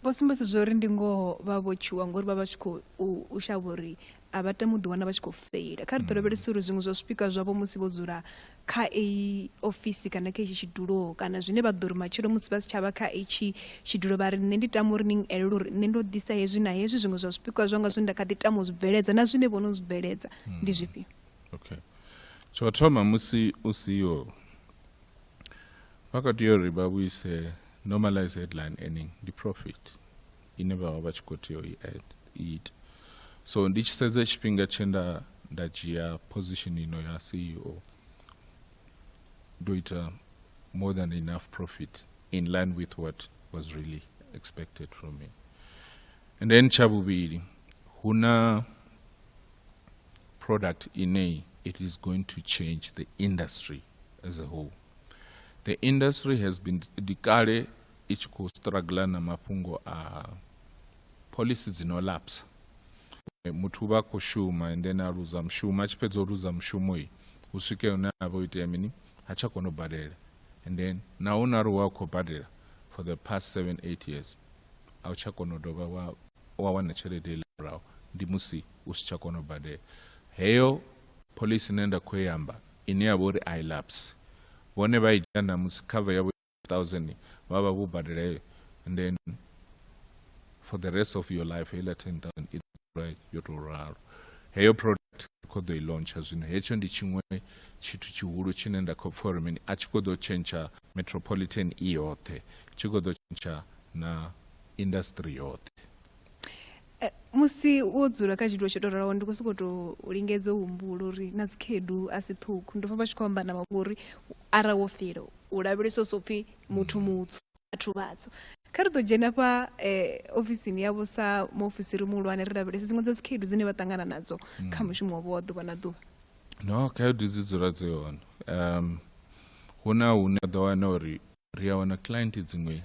vho sumbedza zwa uri ndi ngoho vha vho tshuwa ngori vha vha tshi khou shavha uri a vha tami u ḓiwana vha tshi khou feila kha ri ḓo mm. lavhelesa uri zwiṅwe zwa zwipikwa zwavho musi vho dzula kha eyi ofisi kana kha itshi tshidulo kana zwine vha ḓo ri matshelo musi vha si tshavha kha itshi tshidulo vha ri nṋe ndi tama uri ni elele uri nṋe ndo ḓisa hezwi na hezwi zwiṅwe zwa zwipikwa zwanga zwine nda kha ḓi tama u zwi bveledza na zwine vho no zwi bveledza mm. ndi zwifhio okay tsho thoma musi u siho vha kha tea uri vha vhuise normalize headline earning ndi profit ine vha vha vha tshi khou tea u i ita so ndi tshi sedza tshifhinga tshe nda nda dzhia position ino ya ceo ndo ita more than enough profit in line with what was really expected from me and then tsha vhuvhili hu na product ine it is going to change the industry as a whole the industry has been dikale i tshi khou struggla na mafhungo a policy dzi no lapsa muthu vha khou shuma and then a luza mushumo a tshi fhedza u luza mushumo i hu swike hune a vha o itea mini ha tsha kona u badela and then na hu na ri wa khou badela for the past 7 8 years a u tsha kona u dovha wa wa wana tshelede ile murahu ndi musi u si tsha kona u badela heyo policy ine nda khou yamba ine ya vha uri i lapse vhone vha i dzhia na musi cover yavho thousand vha vha vho badela heyo and then for the rest of your life heiḽa ten thousand i ḓura yo tou ralo heyo product kho ḓo i launcha zwino hetsho ndi tshiṅwe tshithu tshihulu tshine nda khou pfha uri mini a tshi khou ḓo tshentsha metropolitan i yoṱhe tshi khou ḓo tshentsha na industry yoṱhe Eh, musi wo dzula kha tshithu tsho tou ralaho ndi khou sokou tou lingedza u humbula uri na dzikhedu a si ṱhukhu ndo pfa vha tshi khou amba na vhaṅwe uri arali wo fila u lavhelesa so pfhi muthu mm. mutsu vhathu vhatsu kha ri ḓo dzhena fha eh, ofisini yavho sa muofisiri muhulwane ri lavhelese dziṅwe dza dzikhedu dzine vha ṱangana nadzo mm. kha mushumo wavho wa ḓuvha na ḓuvha no khaedu dzi dzula dzi hone um hu na hune a ḓo wana uri ri a wana client dziṅwe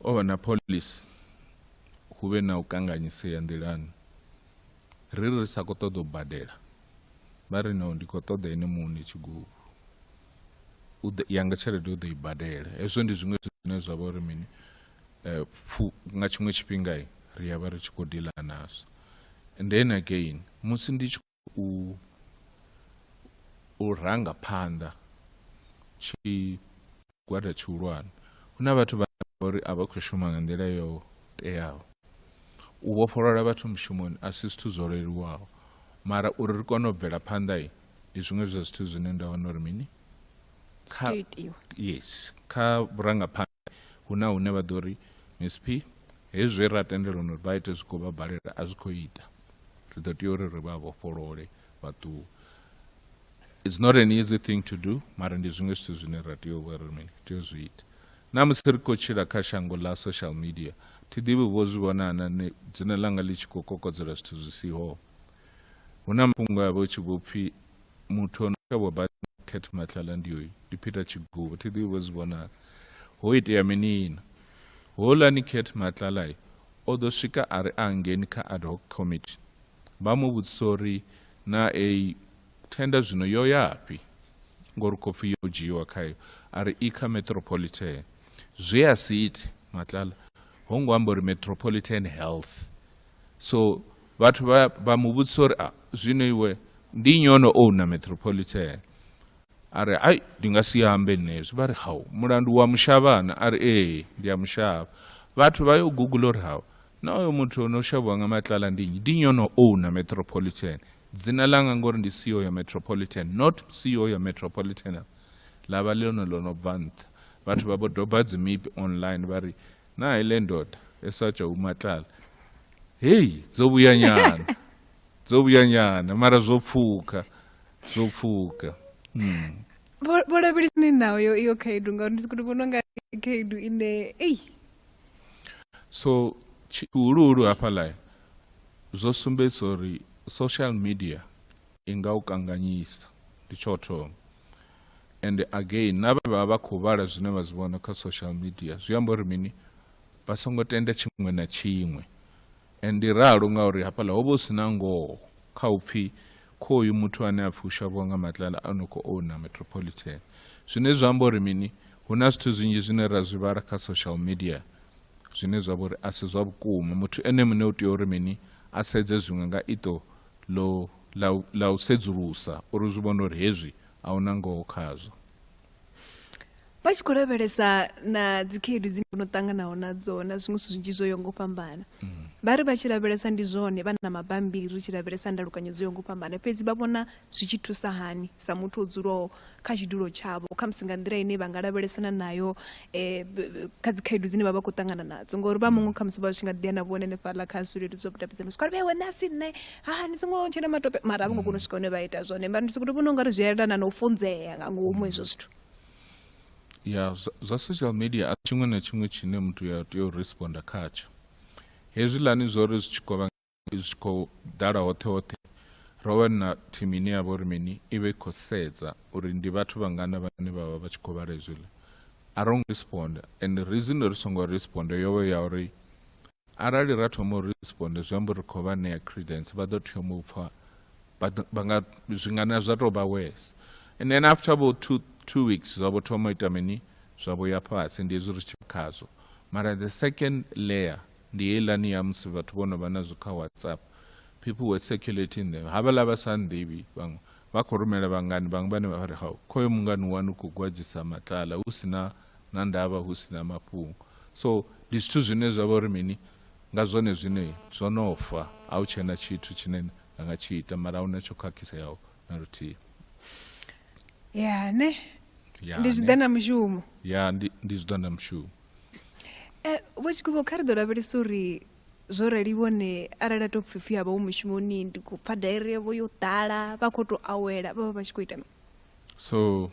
o vha na policy hu vhe na u kanganyisea nḓilani ri ri sa khou ṱoḓa u badela vha ri no ndi khou ṱoḓa ene muṋe tshigubu yanga tshelede u ḓo i badela hezwo ndi zwiṅwe zwine zwa vha uri mini um nga tshiṅwe tshifhinga ri ya vha ri tshi khou dila nazwo and then again musi ndi tshi u u ranga phanḓa tshigwada tshihulwane hu na vhathu vha uri a vha khou shuma nga nḓila yo teaho u vhofholola vhathu mushumoni a si zwithu zwo leluwaho mara uri ri kone u bvela phanḓa ndi zwiṅwe zwa zwithu zwine nda vhona uri mini kha yes kha vhurangaphanḓa Hu na hune vha ḓo ri, Msp, hezwi zwe ra tendelana uri vha ite zwi khou vha balela, a zwi khou ita. Ri ḓo tea uri ri vha vhofholole vha ṱuwe. It's not an easy thing to do, mara ndi zwiṅwe zwithu zwine ra tea u vha ri mini, tea u zwi ita. Na musi ri khou tshila kha shango ḽa social media, thi ḓivhi vho zwi vhona na dzina ḽanga ḽi tshi khou kokodzela zwithu zwi siho. Hu na mafhungo a vha hu tshi vho pfhi muthu o no kavhwa basi Cat Matlala ndi hoyu ndi Peter Chigubu thi ḓivhi vho zwi vhonala ho itea minina houḽani Cat Matlala o ḓo swika a ri a ngeni kha ad hoc committee vha mu vhudzisa uri na a thenda zwino yo yafhi ngori khou pfhi yo dzhiiwa khayo a ri i kha metropolitan zwe a si ite Matlala ho ngo amba uri metropolitan health so vhathu vha vha mu vhudzisa uri ah, zwino iwe ndi nnyi ono owna metropolitan a ri ai ndi nga si ambe nne hezwi vha ri hau mulandu wa mushavhana a ri ee ndi a mushavha vhathu vha yo google uri hau na oyo muthu ono shavhiwa nga matlala ndi nnyi ndi nnyi ono owna metropolitan dzina langa ngori ndi ceo ya metropolitan not ceo ya metropolitan ḽa vha ḽone ḽo no bva nṱha vhathu vha vho doba dzimipi online vha ri nayi le ndoda esatshwa umatlala heyi zobuyanyana zobuyanyana mara zopfuka zopfuka hmm. vho lavhelisani nayo iyo khaedu ngauri ndi sikuti vhono nga khaedu ine eyi so tshihuluhulu hafhaḽa zwo sumbedzisa uri social media i nga u kanganyisa ndi tsho thoma and again na vha vha vha khou vhala zwine vha zwi vhona kha social media zwi amba uri mini vha songo tenda tshiṅwe na tshiṅwe and ndi ralo ngauri hafhaḽa ho vha hu si na ngoho kha u pfhi khoyu muthu ane a pfhi u shavhiwa nga matlala a no khou owna metropolitan zwine zwa amba uri mini hu na zwithu zwinzhi zwine ra zwi vhala kha social media zwine zwa vha uri a si zwa vhukuma muthu ene muṋe u tea uri mini a sedze zwiṅwe nga ito ḽo ḽa u, ḽa u sedzulusa uri zwi vhone uri hezwi a hu na ngoho khazwo. Vha tshi khou lavhelesa na dzikhaedu dzine vho no ṱanganaho nadzo na zwiṅwe zwithu zwinzhi zwo yaho nga u fhambana vha ri vha tshi lavhelesa ndi zwone vha na mabambiri ri tshi lavhelesa ndalukanyo dzo yaho nga u fhambana fhedzi vha vhona zwi tshi thusa hani sa muthu o dzulaho kha tshidulo tshavho khamusi nga nḓila ine vha nga lavhelesana nayo um kha dzi khaedu dzine vha vha khou ṱangana nadzo ngauri vha muṅwe khamusi vha tshi nga ḓi ya na vhone hanefhaḽa kha zwileludzi zwa vhudavhidzani swika vhe wena si nṋe ha ni songo tshena matope mara a vho ngo kona u swika hune vha ita zwone mara ndi sokoto vhona ungari zwi elana na u funzea nga ngomu hezwo zwithu ya zwa social media a tshiṅwe na tshiṅwe tshine muthu ya tea u responda khatsho hezwiḽani zwo ri zwi tshi kovha zwi tshi khou ḓala hoṱhe hoṱhe ro wana thimu ine ya vha uri mini i vha i khou sedza uri ndi vhathu vhangana vhane vha vha vha tshi khou vhala hezwiḽa a ro ngo responda and reason ri songo responda yo vha ya uri arali ra thoma u responda zwi amba uri ri khou vha ṋea credence vha ḓo thoma u pfha zwingana zwa tou vha wes and then after bo two, two weeks zwa vho thoma u ita mini zwa vho ya fhasi ndi hezwi ri tshi khazwo mara the second layer Ndi heiḽani ya musi vhathu vho no vha nazwo kha WhatsApp. People were circulating them. Havhaḽa vha sa nnḓivhi vhaṅwe vha khou rumela vhangani vhaṅwe vhane vha ri hau khoyo mungani wanu u khou gwadzisa matlala hu si na na ndavha hu si na mafhungo. So ndi zwithu zwine zwa vha uri mini nga zwone zwine zwo no fa a hu tshena tshithu tshine na nga tshi ita mara a hu na tsho khakhiseaho na luthihi. Ya ne ndi zwiḓa na mushumo. Ya ndi ndi zwiḓa na mushumo. Eh, vho tshikuvho kha ri ḓo lavhelesa uri zwo rali vhone arali a to pfipfi havha hu mushumoni ndi khou pfa dairi yavho yo ḓala vha khou tou awela vha vha vha tshi khou ita mini so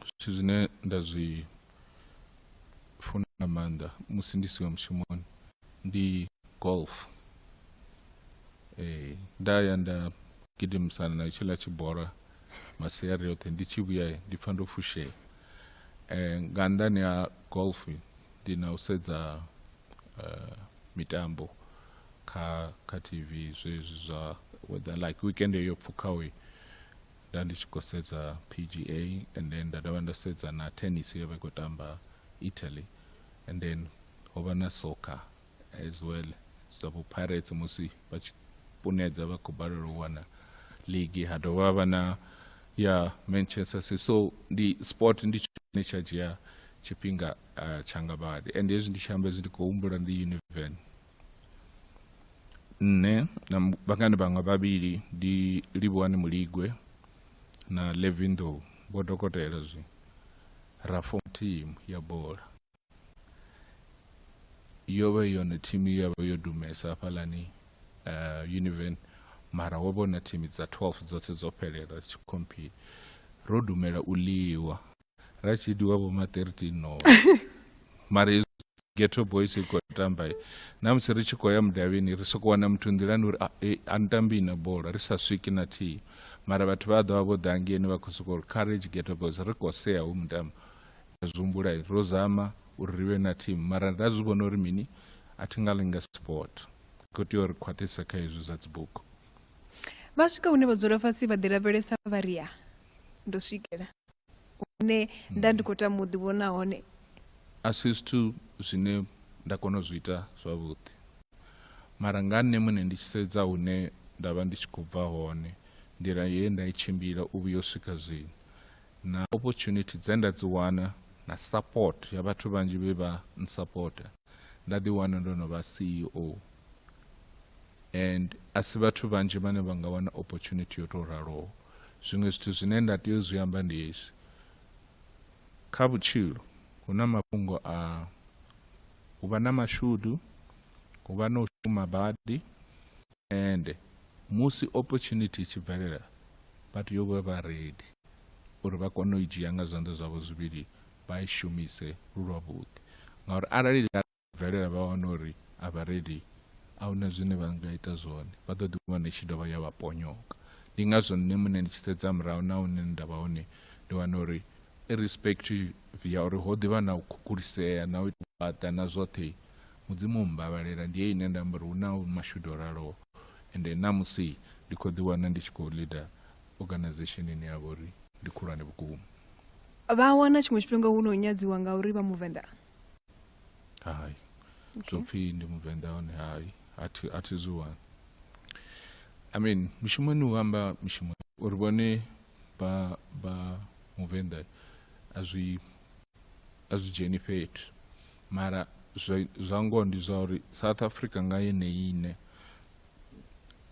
zwithu zwine nda zwi funa nga maanḓa musi ndi siho mushumoni ndi golf eh, nda ya nda gidimisana na tshiḽa tshibora masiari oṱhe ndi tshi vhuya ndi pfa ndo fushea eh, nga nnḓani ha golf ndi na u sedza eh, mitambo kha kha tv zwezwi zwa whether like weekend yo pfhukaho nda ndi tshi khou sedza pga and then nda dovha nda sedza na tennis yo vha i khou tamba italy and then ho vha na soccer as well zwa vho pirates musi vha tshi punedza vha khou balelwa u wana ligi ha dovha vha na ya manchester city so ndi sport ndi tshone tsha dzhia tshifhinga uh, tshanga badi and hezwi ndi tshi amba hezwi ndi khou humbula ndi univen nṋe na vhangani vhanga vhavhili ndi livhuwani muligwe na levindo vho dokotela zwi ra fom team ya bola yo vha yone thimu ya vha yo dumesa hafhalani uh, eh, univen mara wo vhona thimu dza 12 dzoṱhe dzo fhelela dzi tshi compete ro dumela u ḽiwa ra tshi diwa vho ma 13 no mara ghetto boys i khou tamba na musi ri tshi khou ya mudavhini ri sokou wana muthu nḓilani uri a eh, ni tambi na bola ri sa swiki na thihi mara vhathu vha ḓo vha vho ḓa ngeni vha khou sokou ri courage ghetto boys ri khou sea hu mutambo Ri a zwi humbula, ro zama uri ri vhe na thimu mara ra zwi vhona uri mini, a thi nga ḽi nga sport. Ri khou tea uri khwaṱhise kha hezwi zwa dzibugu. Vha swika hune vha dzula fhasi vha ḓilavhelesa vha ri, Ya, ndo swikela hune nda ndi khou tama u ḓivhona hone. A si zwithu zwine nda kona u zwi ita zwavhuḓi. Mara nga nṋe muṋe ndi tshi sedza hune nda vha ndi tshi khou bva hone, nḓila ye nda i tshimbila u vhuya u swika zwino, na opportunity dze nda dzi wana na support ya vhathu vhanzhi vhe vha nsupporta nda ḓi wana ndo no vha ceo and a si vhathu vhanzhi vhane vha nga wana opportunity yo tou raloho zwiṅwe zwithu zwine nda tea u zwi amba ndi hezwi kha vhutshilo hu na mafhungo a hu vha na mashudu hu vha na u shuma badi Ende musi opportunity i tshi bvelela vha tea u vha vha ready uri vha kone u i dzhia nga zwanḓa zwavho zwivhili vha i shumise lu lwavhuḓi ngauri arali ḽa bvelela vha wana uri a vha ready a hu na zwine vha nga ita zwone vha ḓo ḓiwana i tshi dovha ya vha ponyoka ndi ngazwo nṋe muṋe ndi tshi sedza murahu na hune nda vha hone ndi wana uri irrespective ya uri ho ḓivha na u khukulisea na u ita vhaḓa na zwoṱhe mudzimu mmbavhalela ndi ye ine nda amba uri hu na mashudu o raloho ende namusi ndi khou ḓiwana ndi tshi khou leader organization ine ya vha uri ndi khulwane vhukuma vha wana tshiṅwe tshifhinga hu no nyadziwa nga uri vha muvenḓa hai zwo pfhi ndi muvenḓa hone hai a thi zwi wani i mean mishumoni u amba mishumo uri vhone vha vha muvenḓa a zwi a zwi dzheni fhethu mara zwa ngoho ndi zwa uri south africa nga yeneyi ine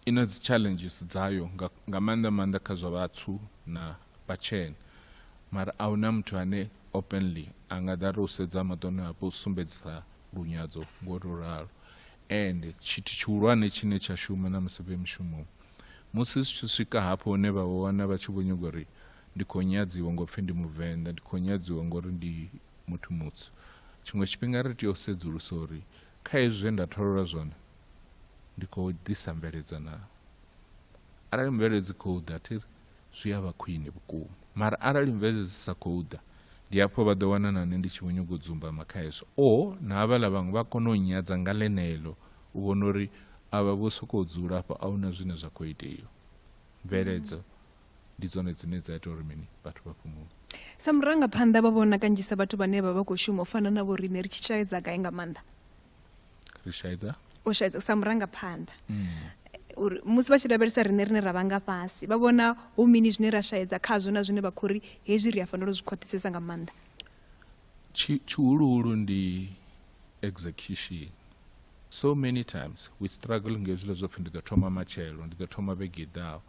i na dzi challenges dzayo nga maanḓa maanḓa kha zwa vhathu na vhatshena mara a huna muthu ane openly a nga ḓa ri u sedza maṱoni hapo u sumbedzisa lunyadzo ngo to ralo and tshithu tshihulwane tshine tsha shuma na musi vhe mushumoni musi zwi tshi swika hafho hune vha wana vha tshi vho nyago uri ndi khou nyadziwa ngo pfhi ndi muvenḓa ndi khou nyadziwa ngori ndi muthu mutsu tshiṅwe tshifhinga ri tea u sedzulusa uri kha hezwi zwe nda tholola zwone ndi khou ḓisa mveledzo na arali mveledzo dzi khou ḓa thiri zwi a vha khwine vhukuma mara arali mveledzo dzi sa khou ḓa ndi hafho vha ḓo wana na nṋe ndi tshi vho nyago dzumbama kha hezwo o na havhaḽa vhaṅwe vha kone u nyadza nga ḽeneḽo u vhona uri a vha vho sokou dzula afho a hu na zwine zwa khou itea mveledzo ndi dzone dzine dza ita uri mini vhathu vha fhumule sa murangaphanḓa vha vhona kanzhisa vhathu vhane vha vha khou shuma u fana na vho riṋe ri tshi shaedza gai nga maanḓa ri shaedza u shaedza sa murangaphanḓa mm. uri musi vha tshi lavhelesa riṋe rine ra vha nga fhasi vha vhona hu mini zwine ra shaedza khazwo na zwine vha khou ri hezwi ri a fanela u zwi khwaṱhisesa nga maanḓa tshihuluhulu ndi execution so many times we struggle nga hezwiḽa zwo pfhi ndi ḓo thoma matshelo ndi ḓo thoma vhege i ḓaho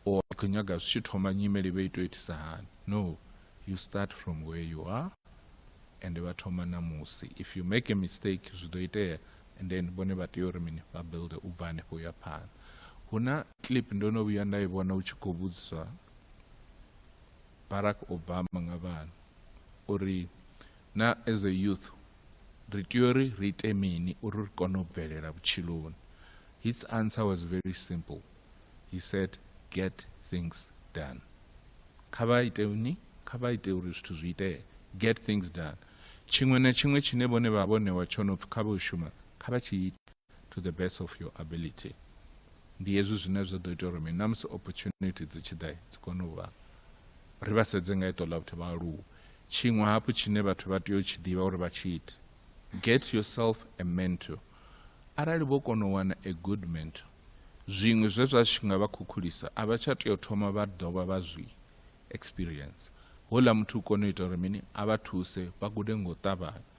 or ndi khou nyaga zwi tshi thoma nyimele vhe ito itisa hani no you start from where you are and vha thoma namusi if you make a mistake zwi ḓo itea and then vhone vha tea uri mini vha builde u bva hanefho uya phanḓa hu na clip ndo no vhuya nda i vhona u tshi khou vhudziswa barack obama nga vhana uri na as a youth ri tea uri ri ite mini uri ri kone u bvelela vhutshiloni his answer was very simple he said get things done kha vha ite ni kha vha ite uri zwithu zwi itee get things done tshiṅwe na tshiṅwe tshine vhone vha vho ṋewa tsho no pfhi kha vho shuma kha vha tshi ite to the best of your ability ndi hezwi zwine zwa ḓo ita uri mini na musi opportunity dzi tshi ḓa dzi kone u vha ri vha sedze nga iṱo ḽa vhuthu vha aluwe tshiṅwe hafhu tshine vhathu vha tea u tshi ḓivha uri vha tshi ite get yourself a mentor arali vho kona u wana a good mentor zwiṅwe zwe zwa tshi nga vha khukhulisa a vha tsha tea u thoma vha dovha vha zwi experience houḽa muthu u kone u ita uri mini a vha thuse vha gude ngo ṱavhanya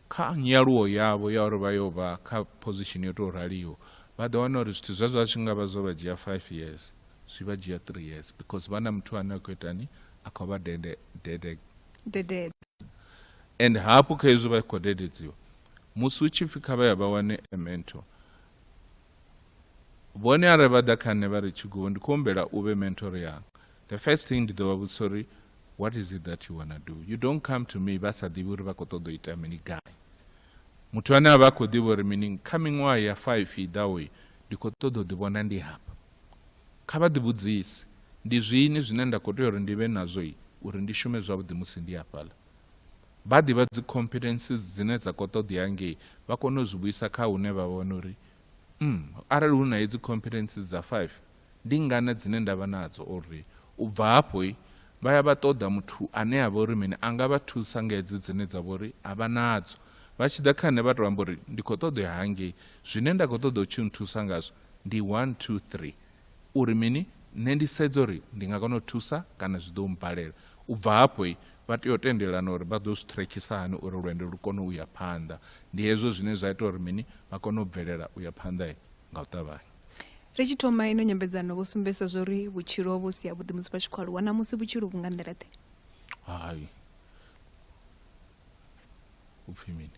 Kha nyaluwo yavho ya uri vha yo vha kha phozishini yo tou raliho, vha ḓo wana uri zwithu zwezwo a zwi nga vha zwo vha dzhia five years, zwi vha dzhia three years because vha na muthu ane a khou itani, a khou vha dede, dede, dededza. And hafhu kha hezwi vha khou dededziwa, musi hu tshi pfi kha vha ya vha wane a mentor, vhone arali vha ḓa kha nṋe vha ri tshigoho ndi khou humbela u vhe mentor yanga the first thing ndi ḓo vha vhudzisa uri what is it that you wanna do you don't come to me vha sa ḓivhi uri vha khou ṱoḓa u ita mini gai muthu ane a vha khou ḓivha uri mini kha miṅwaha ya five i ḓaho ndi khou ṱoḓa u ḓivhona ndi hafha kha vha ḓivhudzise ndi zwini zwine nda khou tea uri ndi vhe nazwo uri ndi shume zwavhuḓi musi ndi hafhaḽa vha ḓivha dzi competences dzine dza khou ṱoḓea ngei vha kone u zwi vhuisa kha hune vha vhona uri mm, arali hu na hedzi competences dza five ndi ngana dzine nda vha nadzo uri u bva hafho vha ya vha ṱoḓa muthu ane a vha uri mini a nga vha thusa nga hedzi dzine dza vha uri a vha nadzo vha tshi ḓa kha nṋe vha tou amba uri ndi khou ṱoḓa ya hangei zwine nda khou ṱoḓa u tshi nthusa ngazwo ndi one two three U ri mini? Nṋe ndi sedza uri ndi nga kona u thusa kana zwi ḓo mmbalela. U bva hafho, vha tea u tendelana uri vha ḓo zwi ṱhirekhisa hani uri lwendo lu kone u ya phanḓa. Ndi hezwo zwine zwa ita uri mini? Vha kone u bvelela u ya phanḓa nga u ṱavhanya. Ri tshi thoma ino nyambedzano vho sumbedzisa zwa uri vhutshilo ho vha vhu si havhuḓi musi vha tshi khou aluwa. Ṋamusi vhutshilo vhu nga nḓila-ḓe? Hai. U pfi mini?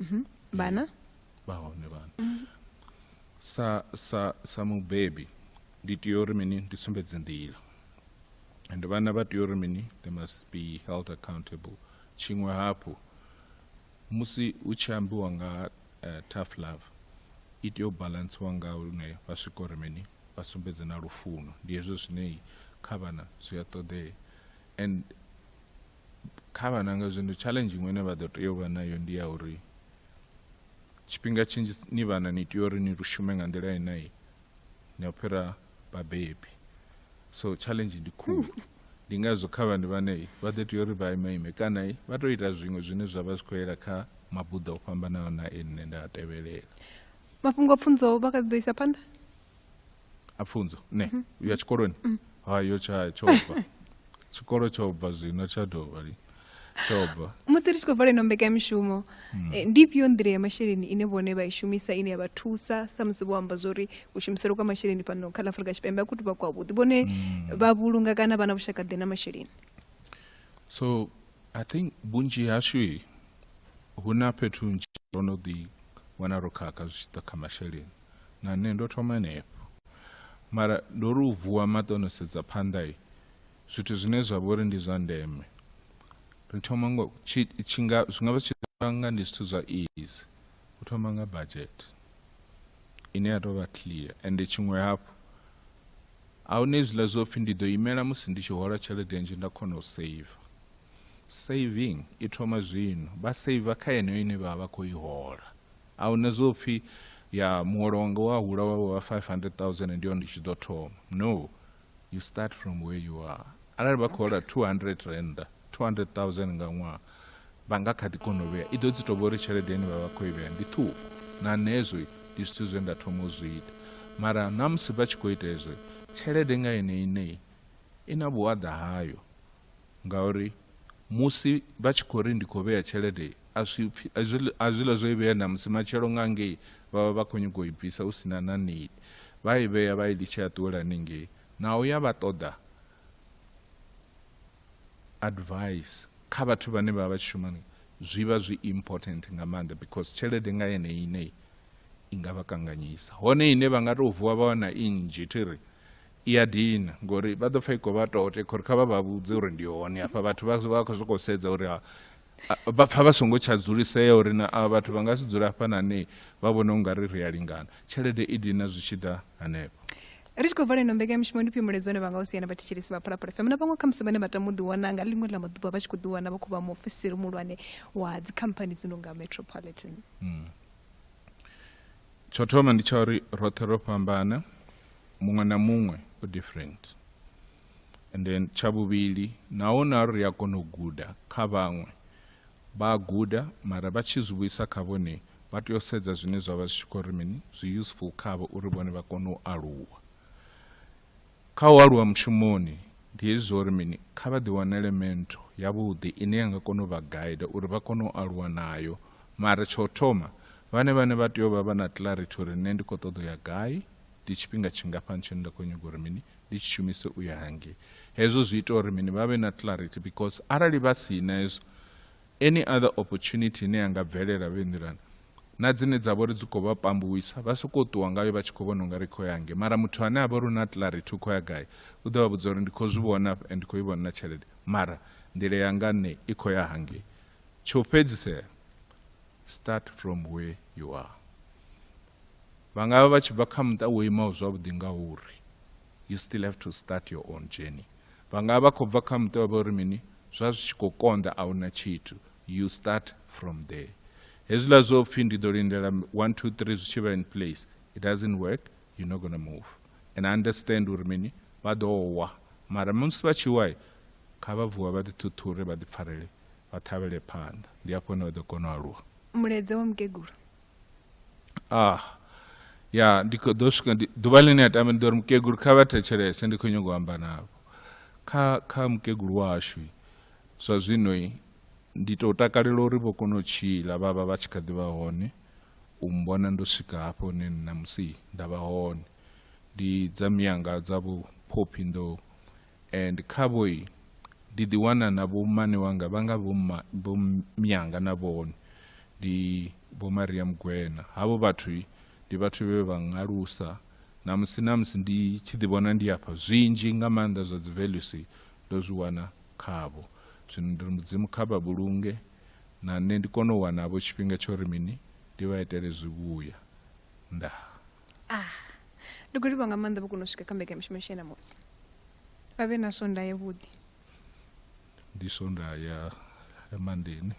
Mhm. vhana eh, vha hone vhana mhm. sa sa sa mubebi ndi tea uri mini ndi sumbedze nḓila and vhana vha tea uri mini they must be held accountable tshiṅwe hafhu musi u tshi ambiwa nga uh, tough love i tea u balantsiwa nga hune vha swika uri mini vha sumbedze na lufuno ndi hezwo zwine kha vhana zwi a ṱoḓea and kha vhana nga zwino challenge iṅwe ine vha ḓo tea u vha nayo ndi ya uri tshifhinga tshinzhi ni vhana ni tea uri ni shume nga nḓila inai ni a fhira vhabebi so challenge ndi khulu ndi ngazwo kha vhana vhane vha ḓo tea uri vha imeime kana vha tou ita zwiṅwe zwine zwa vha zwi khou yela kha mabuḓo o fhambanaho na e nne nda a tevhelela mafhungo a pfunzo vha kha ḓi ḓo isa phanḓa a pfunzo ne mm -hmm. uya tshikoloni mm -hmm. hayo tsha tsho bva tshikolo tsho bva zwino tsha dovha li tshoba musi ri tshi khou vala ino mbekamishumo mm. eh, ndi ifhio nḓila ya masheleni ine vhone vha i shumisa ine ya vha thusa samusi vho amba zwa uri u shumiselo kwa masheleni fhano kha ḽa afurika tshipembe a khou tuvha kwavhuḓi vhone mm. vha vhulunga kana vha na vhushakaḓe na masheleni so i think vhunzhi hashu hu na fhethu nzhi ro no ḓi wana ro khakha zwi tshi ḓa kha masheleni na nṋe ndo thoma henefho mara ndo ri u vuwa maṱo no sedza phanḓa i zwithu zwine zwa vhori ndi zwa ndeme ri thoma ngo tshinga zwi nga vha zwi nga ndi zwithu zwa easy u thoma nga budget ine ya tou vha clear ende tshiṅwe hafhu a huna hezwiḽa zwo pfhi ndi ḓo imela musi ndi tshi hola tshelede nzhi nda kona u save saving i thoma zwino vha saver kha yeneyo ine vha vha vha khou i hola A hu na zwo pfi ya muholo wanga wa hula wa wa 500,000 ndi hone ndi tshi ḓo thoma. No, you start from where you are. Arali vha khou hola 200 rand, 200,000 nga ṅwaha, vha nga kha ḓi kona u vhea. I ḓo dzi tou vha uri tshelede ine vha vha khou i vhea ndi ṱhukhu. Na nezwi ndi zwithu zwe nda thoma u zwi ita. Mara na musi vha tshi khou ita hezwo, tshelede nga yone iṋe I na vhuaḓa hayo ngauri musi vha tshi khou ri ndi khou vhea tshelede a zwiḽa zwo i vhea na musi matshelo nga ngei vha vha vha khou nyanga u i bvisa hu si na na nili vha i vhea vha i litshe a ṱuwela haningei naho ya vha ṱoḓa advice kha vhathu vhane vha vha tshi shuma zwi vha zwi important nga maanḓa because tshelede nga yene ine i nga vha kanganyisa hone ine vha nga tou vuwa vha wana i nnzhi thi ri i ya dina ngori vha ḓo pfha i khou vha tote khori kha vha vha vhudze uri ndi hone hafha vhathu vha vha khou sokou sedza uri vha pfha vha songo tsha dzulisea uri na a vhathu vha nga si dzula hafha na ne vha vhona u nga ri ri a lingana tshelede i dina zwi tshi ḓa hanefho ri tshi khou vala ino mbekanyamushumo ndi fhimbuledzo ne vha nga u siana vhathetshelesi vha phalaphala fm na vhaṅwe khamusi vhane vha tama u ḓiwana nga ḽiṅwe ḽa maḓuvha vha tshi khou ḓiwana vha khou vha muofisiri muhulwane wa dzikhamphani dzi no nga metropolitan mm. tsho thoma ndi tsha uri roṱhe ro fhambana muṅwe na muṅwe u different and then tsha vhuvhili naho na ri a kona u guda kha vhaṅwe vha a guda mara vha tshi zwi vhuisa kha vhone vha tea u sedza zwine zwa vha zwi tshi khou ri mini zwi useful khavho uri vhone vha kone u aluwa Kha u aluwa mushumoni, ndi hezwi zwa uri mini? Kha vha ḓiwanele mentor yavhuḓi ine ya nga kona u vha guider uri vha kone u aluwa nayo. Mara tsha u thoma, vhane vhane vha tea u vha vha na clarity uri nṋe ndi khou ṱoḓa u ya gai, ndi tshifhinga tshingafhani tshine nda khou nyaga uri mini? Ndi tshi shumise u ya hangei. Hezwo zwi ita uri mini? Vha vhe na clarity because arali vha si na hezwo, Any other opportunity ine ya nga bvelela vhe nḓilani na dzine dza vhori dzi khou vha pambuwisa vha sokou ṱuwa ngayo vha tshi khou vhona unga ri khou ya nge mara muthu ane a vha uri u na clarity u khou ya gai u ḓo vha vhudza uri ndi khou zwi vhona afha and ndi khou i vhona na tshelede mara nḓila yanga nṋe i khou ya hangei tsho fhedzisela start from where you are vha nga vha vha tshi bva kha muṱa wo imaho zwavhuḓi nga uri you still have to start your own journey Vha nga vha khou bva kha muṱa wa vha uri mini zwa zwi tshi khou konḓa a huna tshithu you start from there hezwiḽa zwo pfhi ndi ḓo lindela 1 2 3 zwi tshi vha in place it doesn't work you're not going to move and I understand uri mini vha ḓo wa mara musi vha tshi wa kha vha vuwa vha ḓi ṱhuṱhure vha ḓi pfarele vha ṱhavhele phanḓa ndi afho hone vha ḓo kona u aluwa mulaedza wa mukegulu ah ya ndi kho ḓo swika ḓuvha ḽine a tame ndi ḓo ri mukegulu kha vha thetshelese ndi khou nyongo amba navho kha kha mukegulu washu zwa zwino ndi tou takalela uri vho kona u tshila vha vha vha tshi kha ḓi vha hone u mbona ndo swika hafho hune nṋa musi nda vha hone ndi dza miyanga dza vhuphophi ndo And khavhoi ndi ḓi wana na vho mmane wanga vha nga vho mma vho myanga na vhone ndi vho Maria Mugwena havho vhathu ndi vhathu vhe vha ngalusa na musi na musi ndi tshi ḓi vhona ndi afha zwinzhi nga maanḓa zwa dzi values ndo zwi wana khavho zwino ndi ri mudzimu kha vha vhulunge na nṋe ndi kone u wana vho tshifhinga tsho ri mini ndi vha itele zwivhuya ndaa ah ndi khou livha nga maanḓa vho kona u swika kha mbekanyamishumo ya shena musi vha vhe na sonda yavhuḓi ndi sonda ya emandeni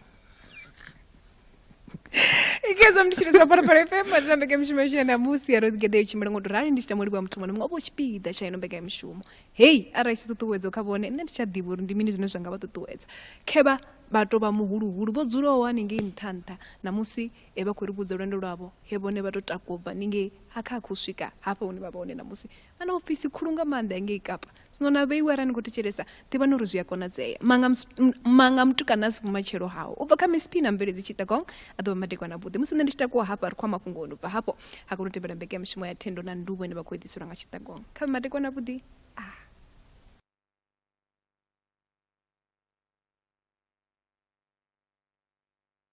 ikezwa mndu tshiri zwa phalaphala fm atina mbekamishumo yashu ya namusi yaro ḓigede yo tshimbila ngo to rali ndi tshi tama ulivhuwa muthu muṅwe na muṅwe o vho tshipiḓa tsha ino mbekamishumo hei arali si ṱuṱuwedzo kha vhone nṋe ndi tsha ḓivha uri ndi mini zwine zwa nga vha ṱuṱuwedza khevha vha tou vha muhuluhulu vho dzulaho haningei nṱha nṱha namusi e vha khou ri vhudza lwendo lwavho he vhone vha tou takuwa u bva ningei ha kha khou swika hafha hune vha vha hone ṋamusi vha na ofisi khulu nga maanḓa ya ngei kapa zwino na vheiwe arali ni khou thetshelesa ḓivhani uri zwi a konadzea manga, manga mutukana a si vhumatshelo hawo u bva kha msp na mveledzi tshitagong a ḓo vha madekwana avhuḓi musi nṋe ndi tshi takuwa hafha ri khou a mafhungoni u bva hafho ha kona u tevhela mbekanyamushumo ya thendo na nduvho ine vha khou eḓiselwa nga tshitagong kha vhe madekwana avhuḓi a ah.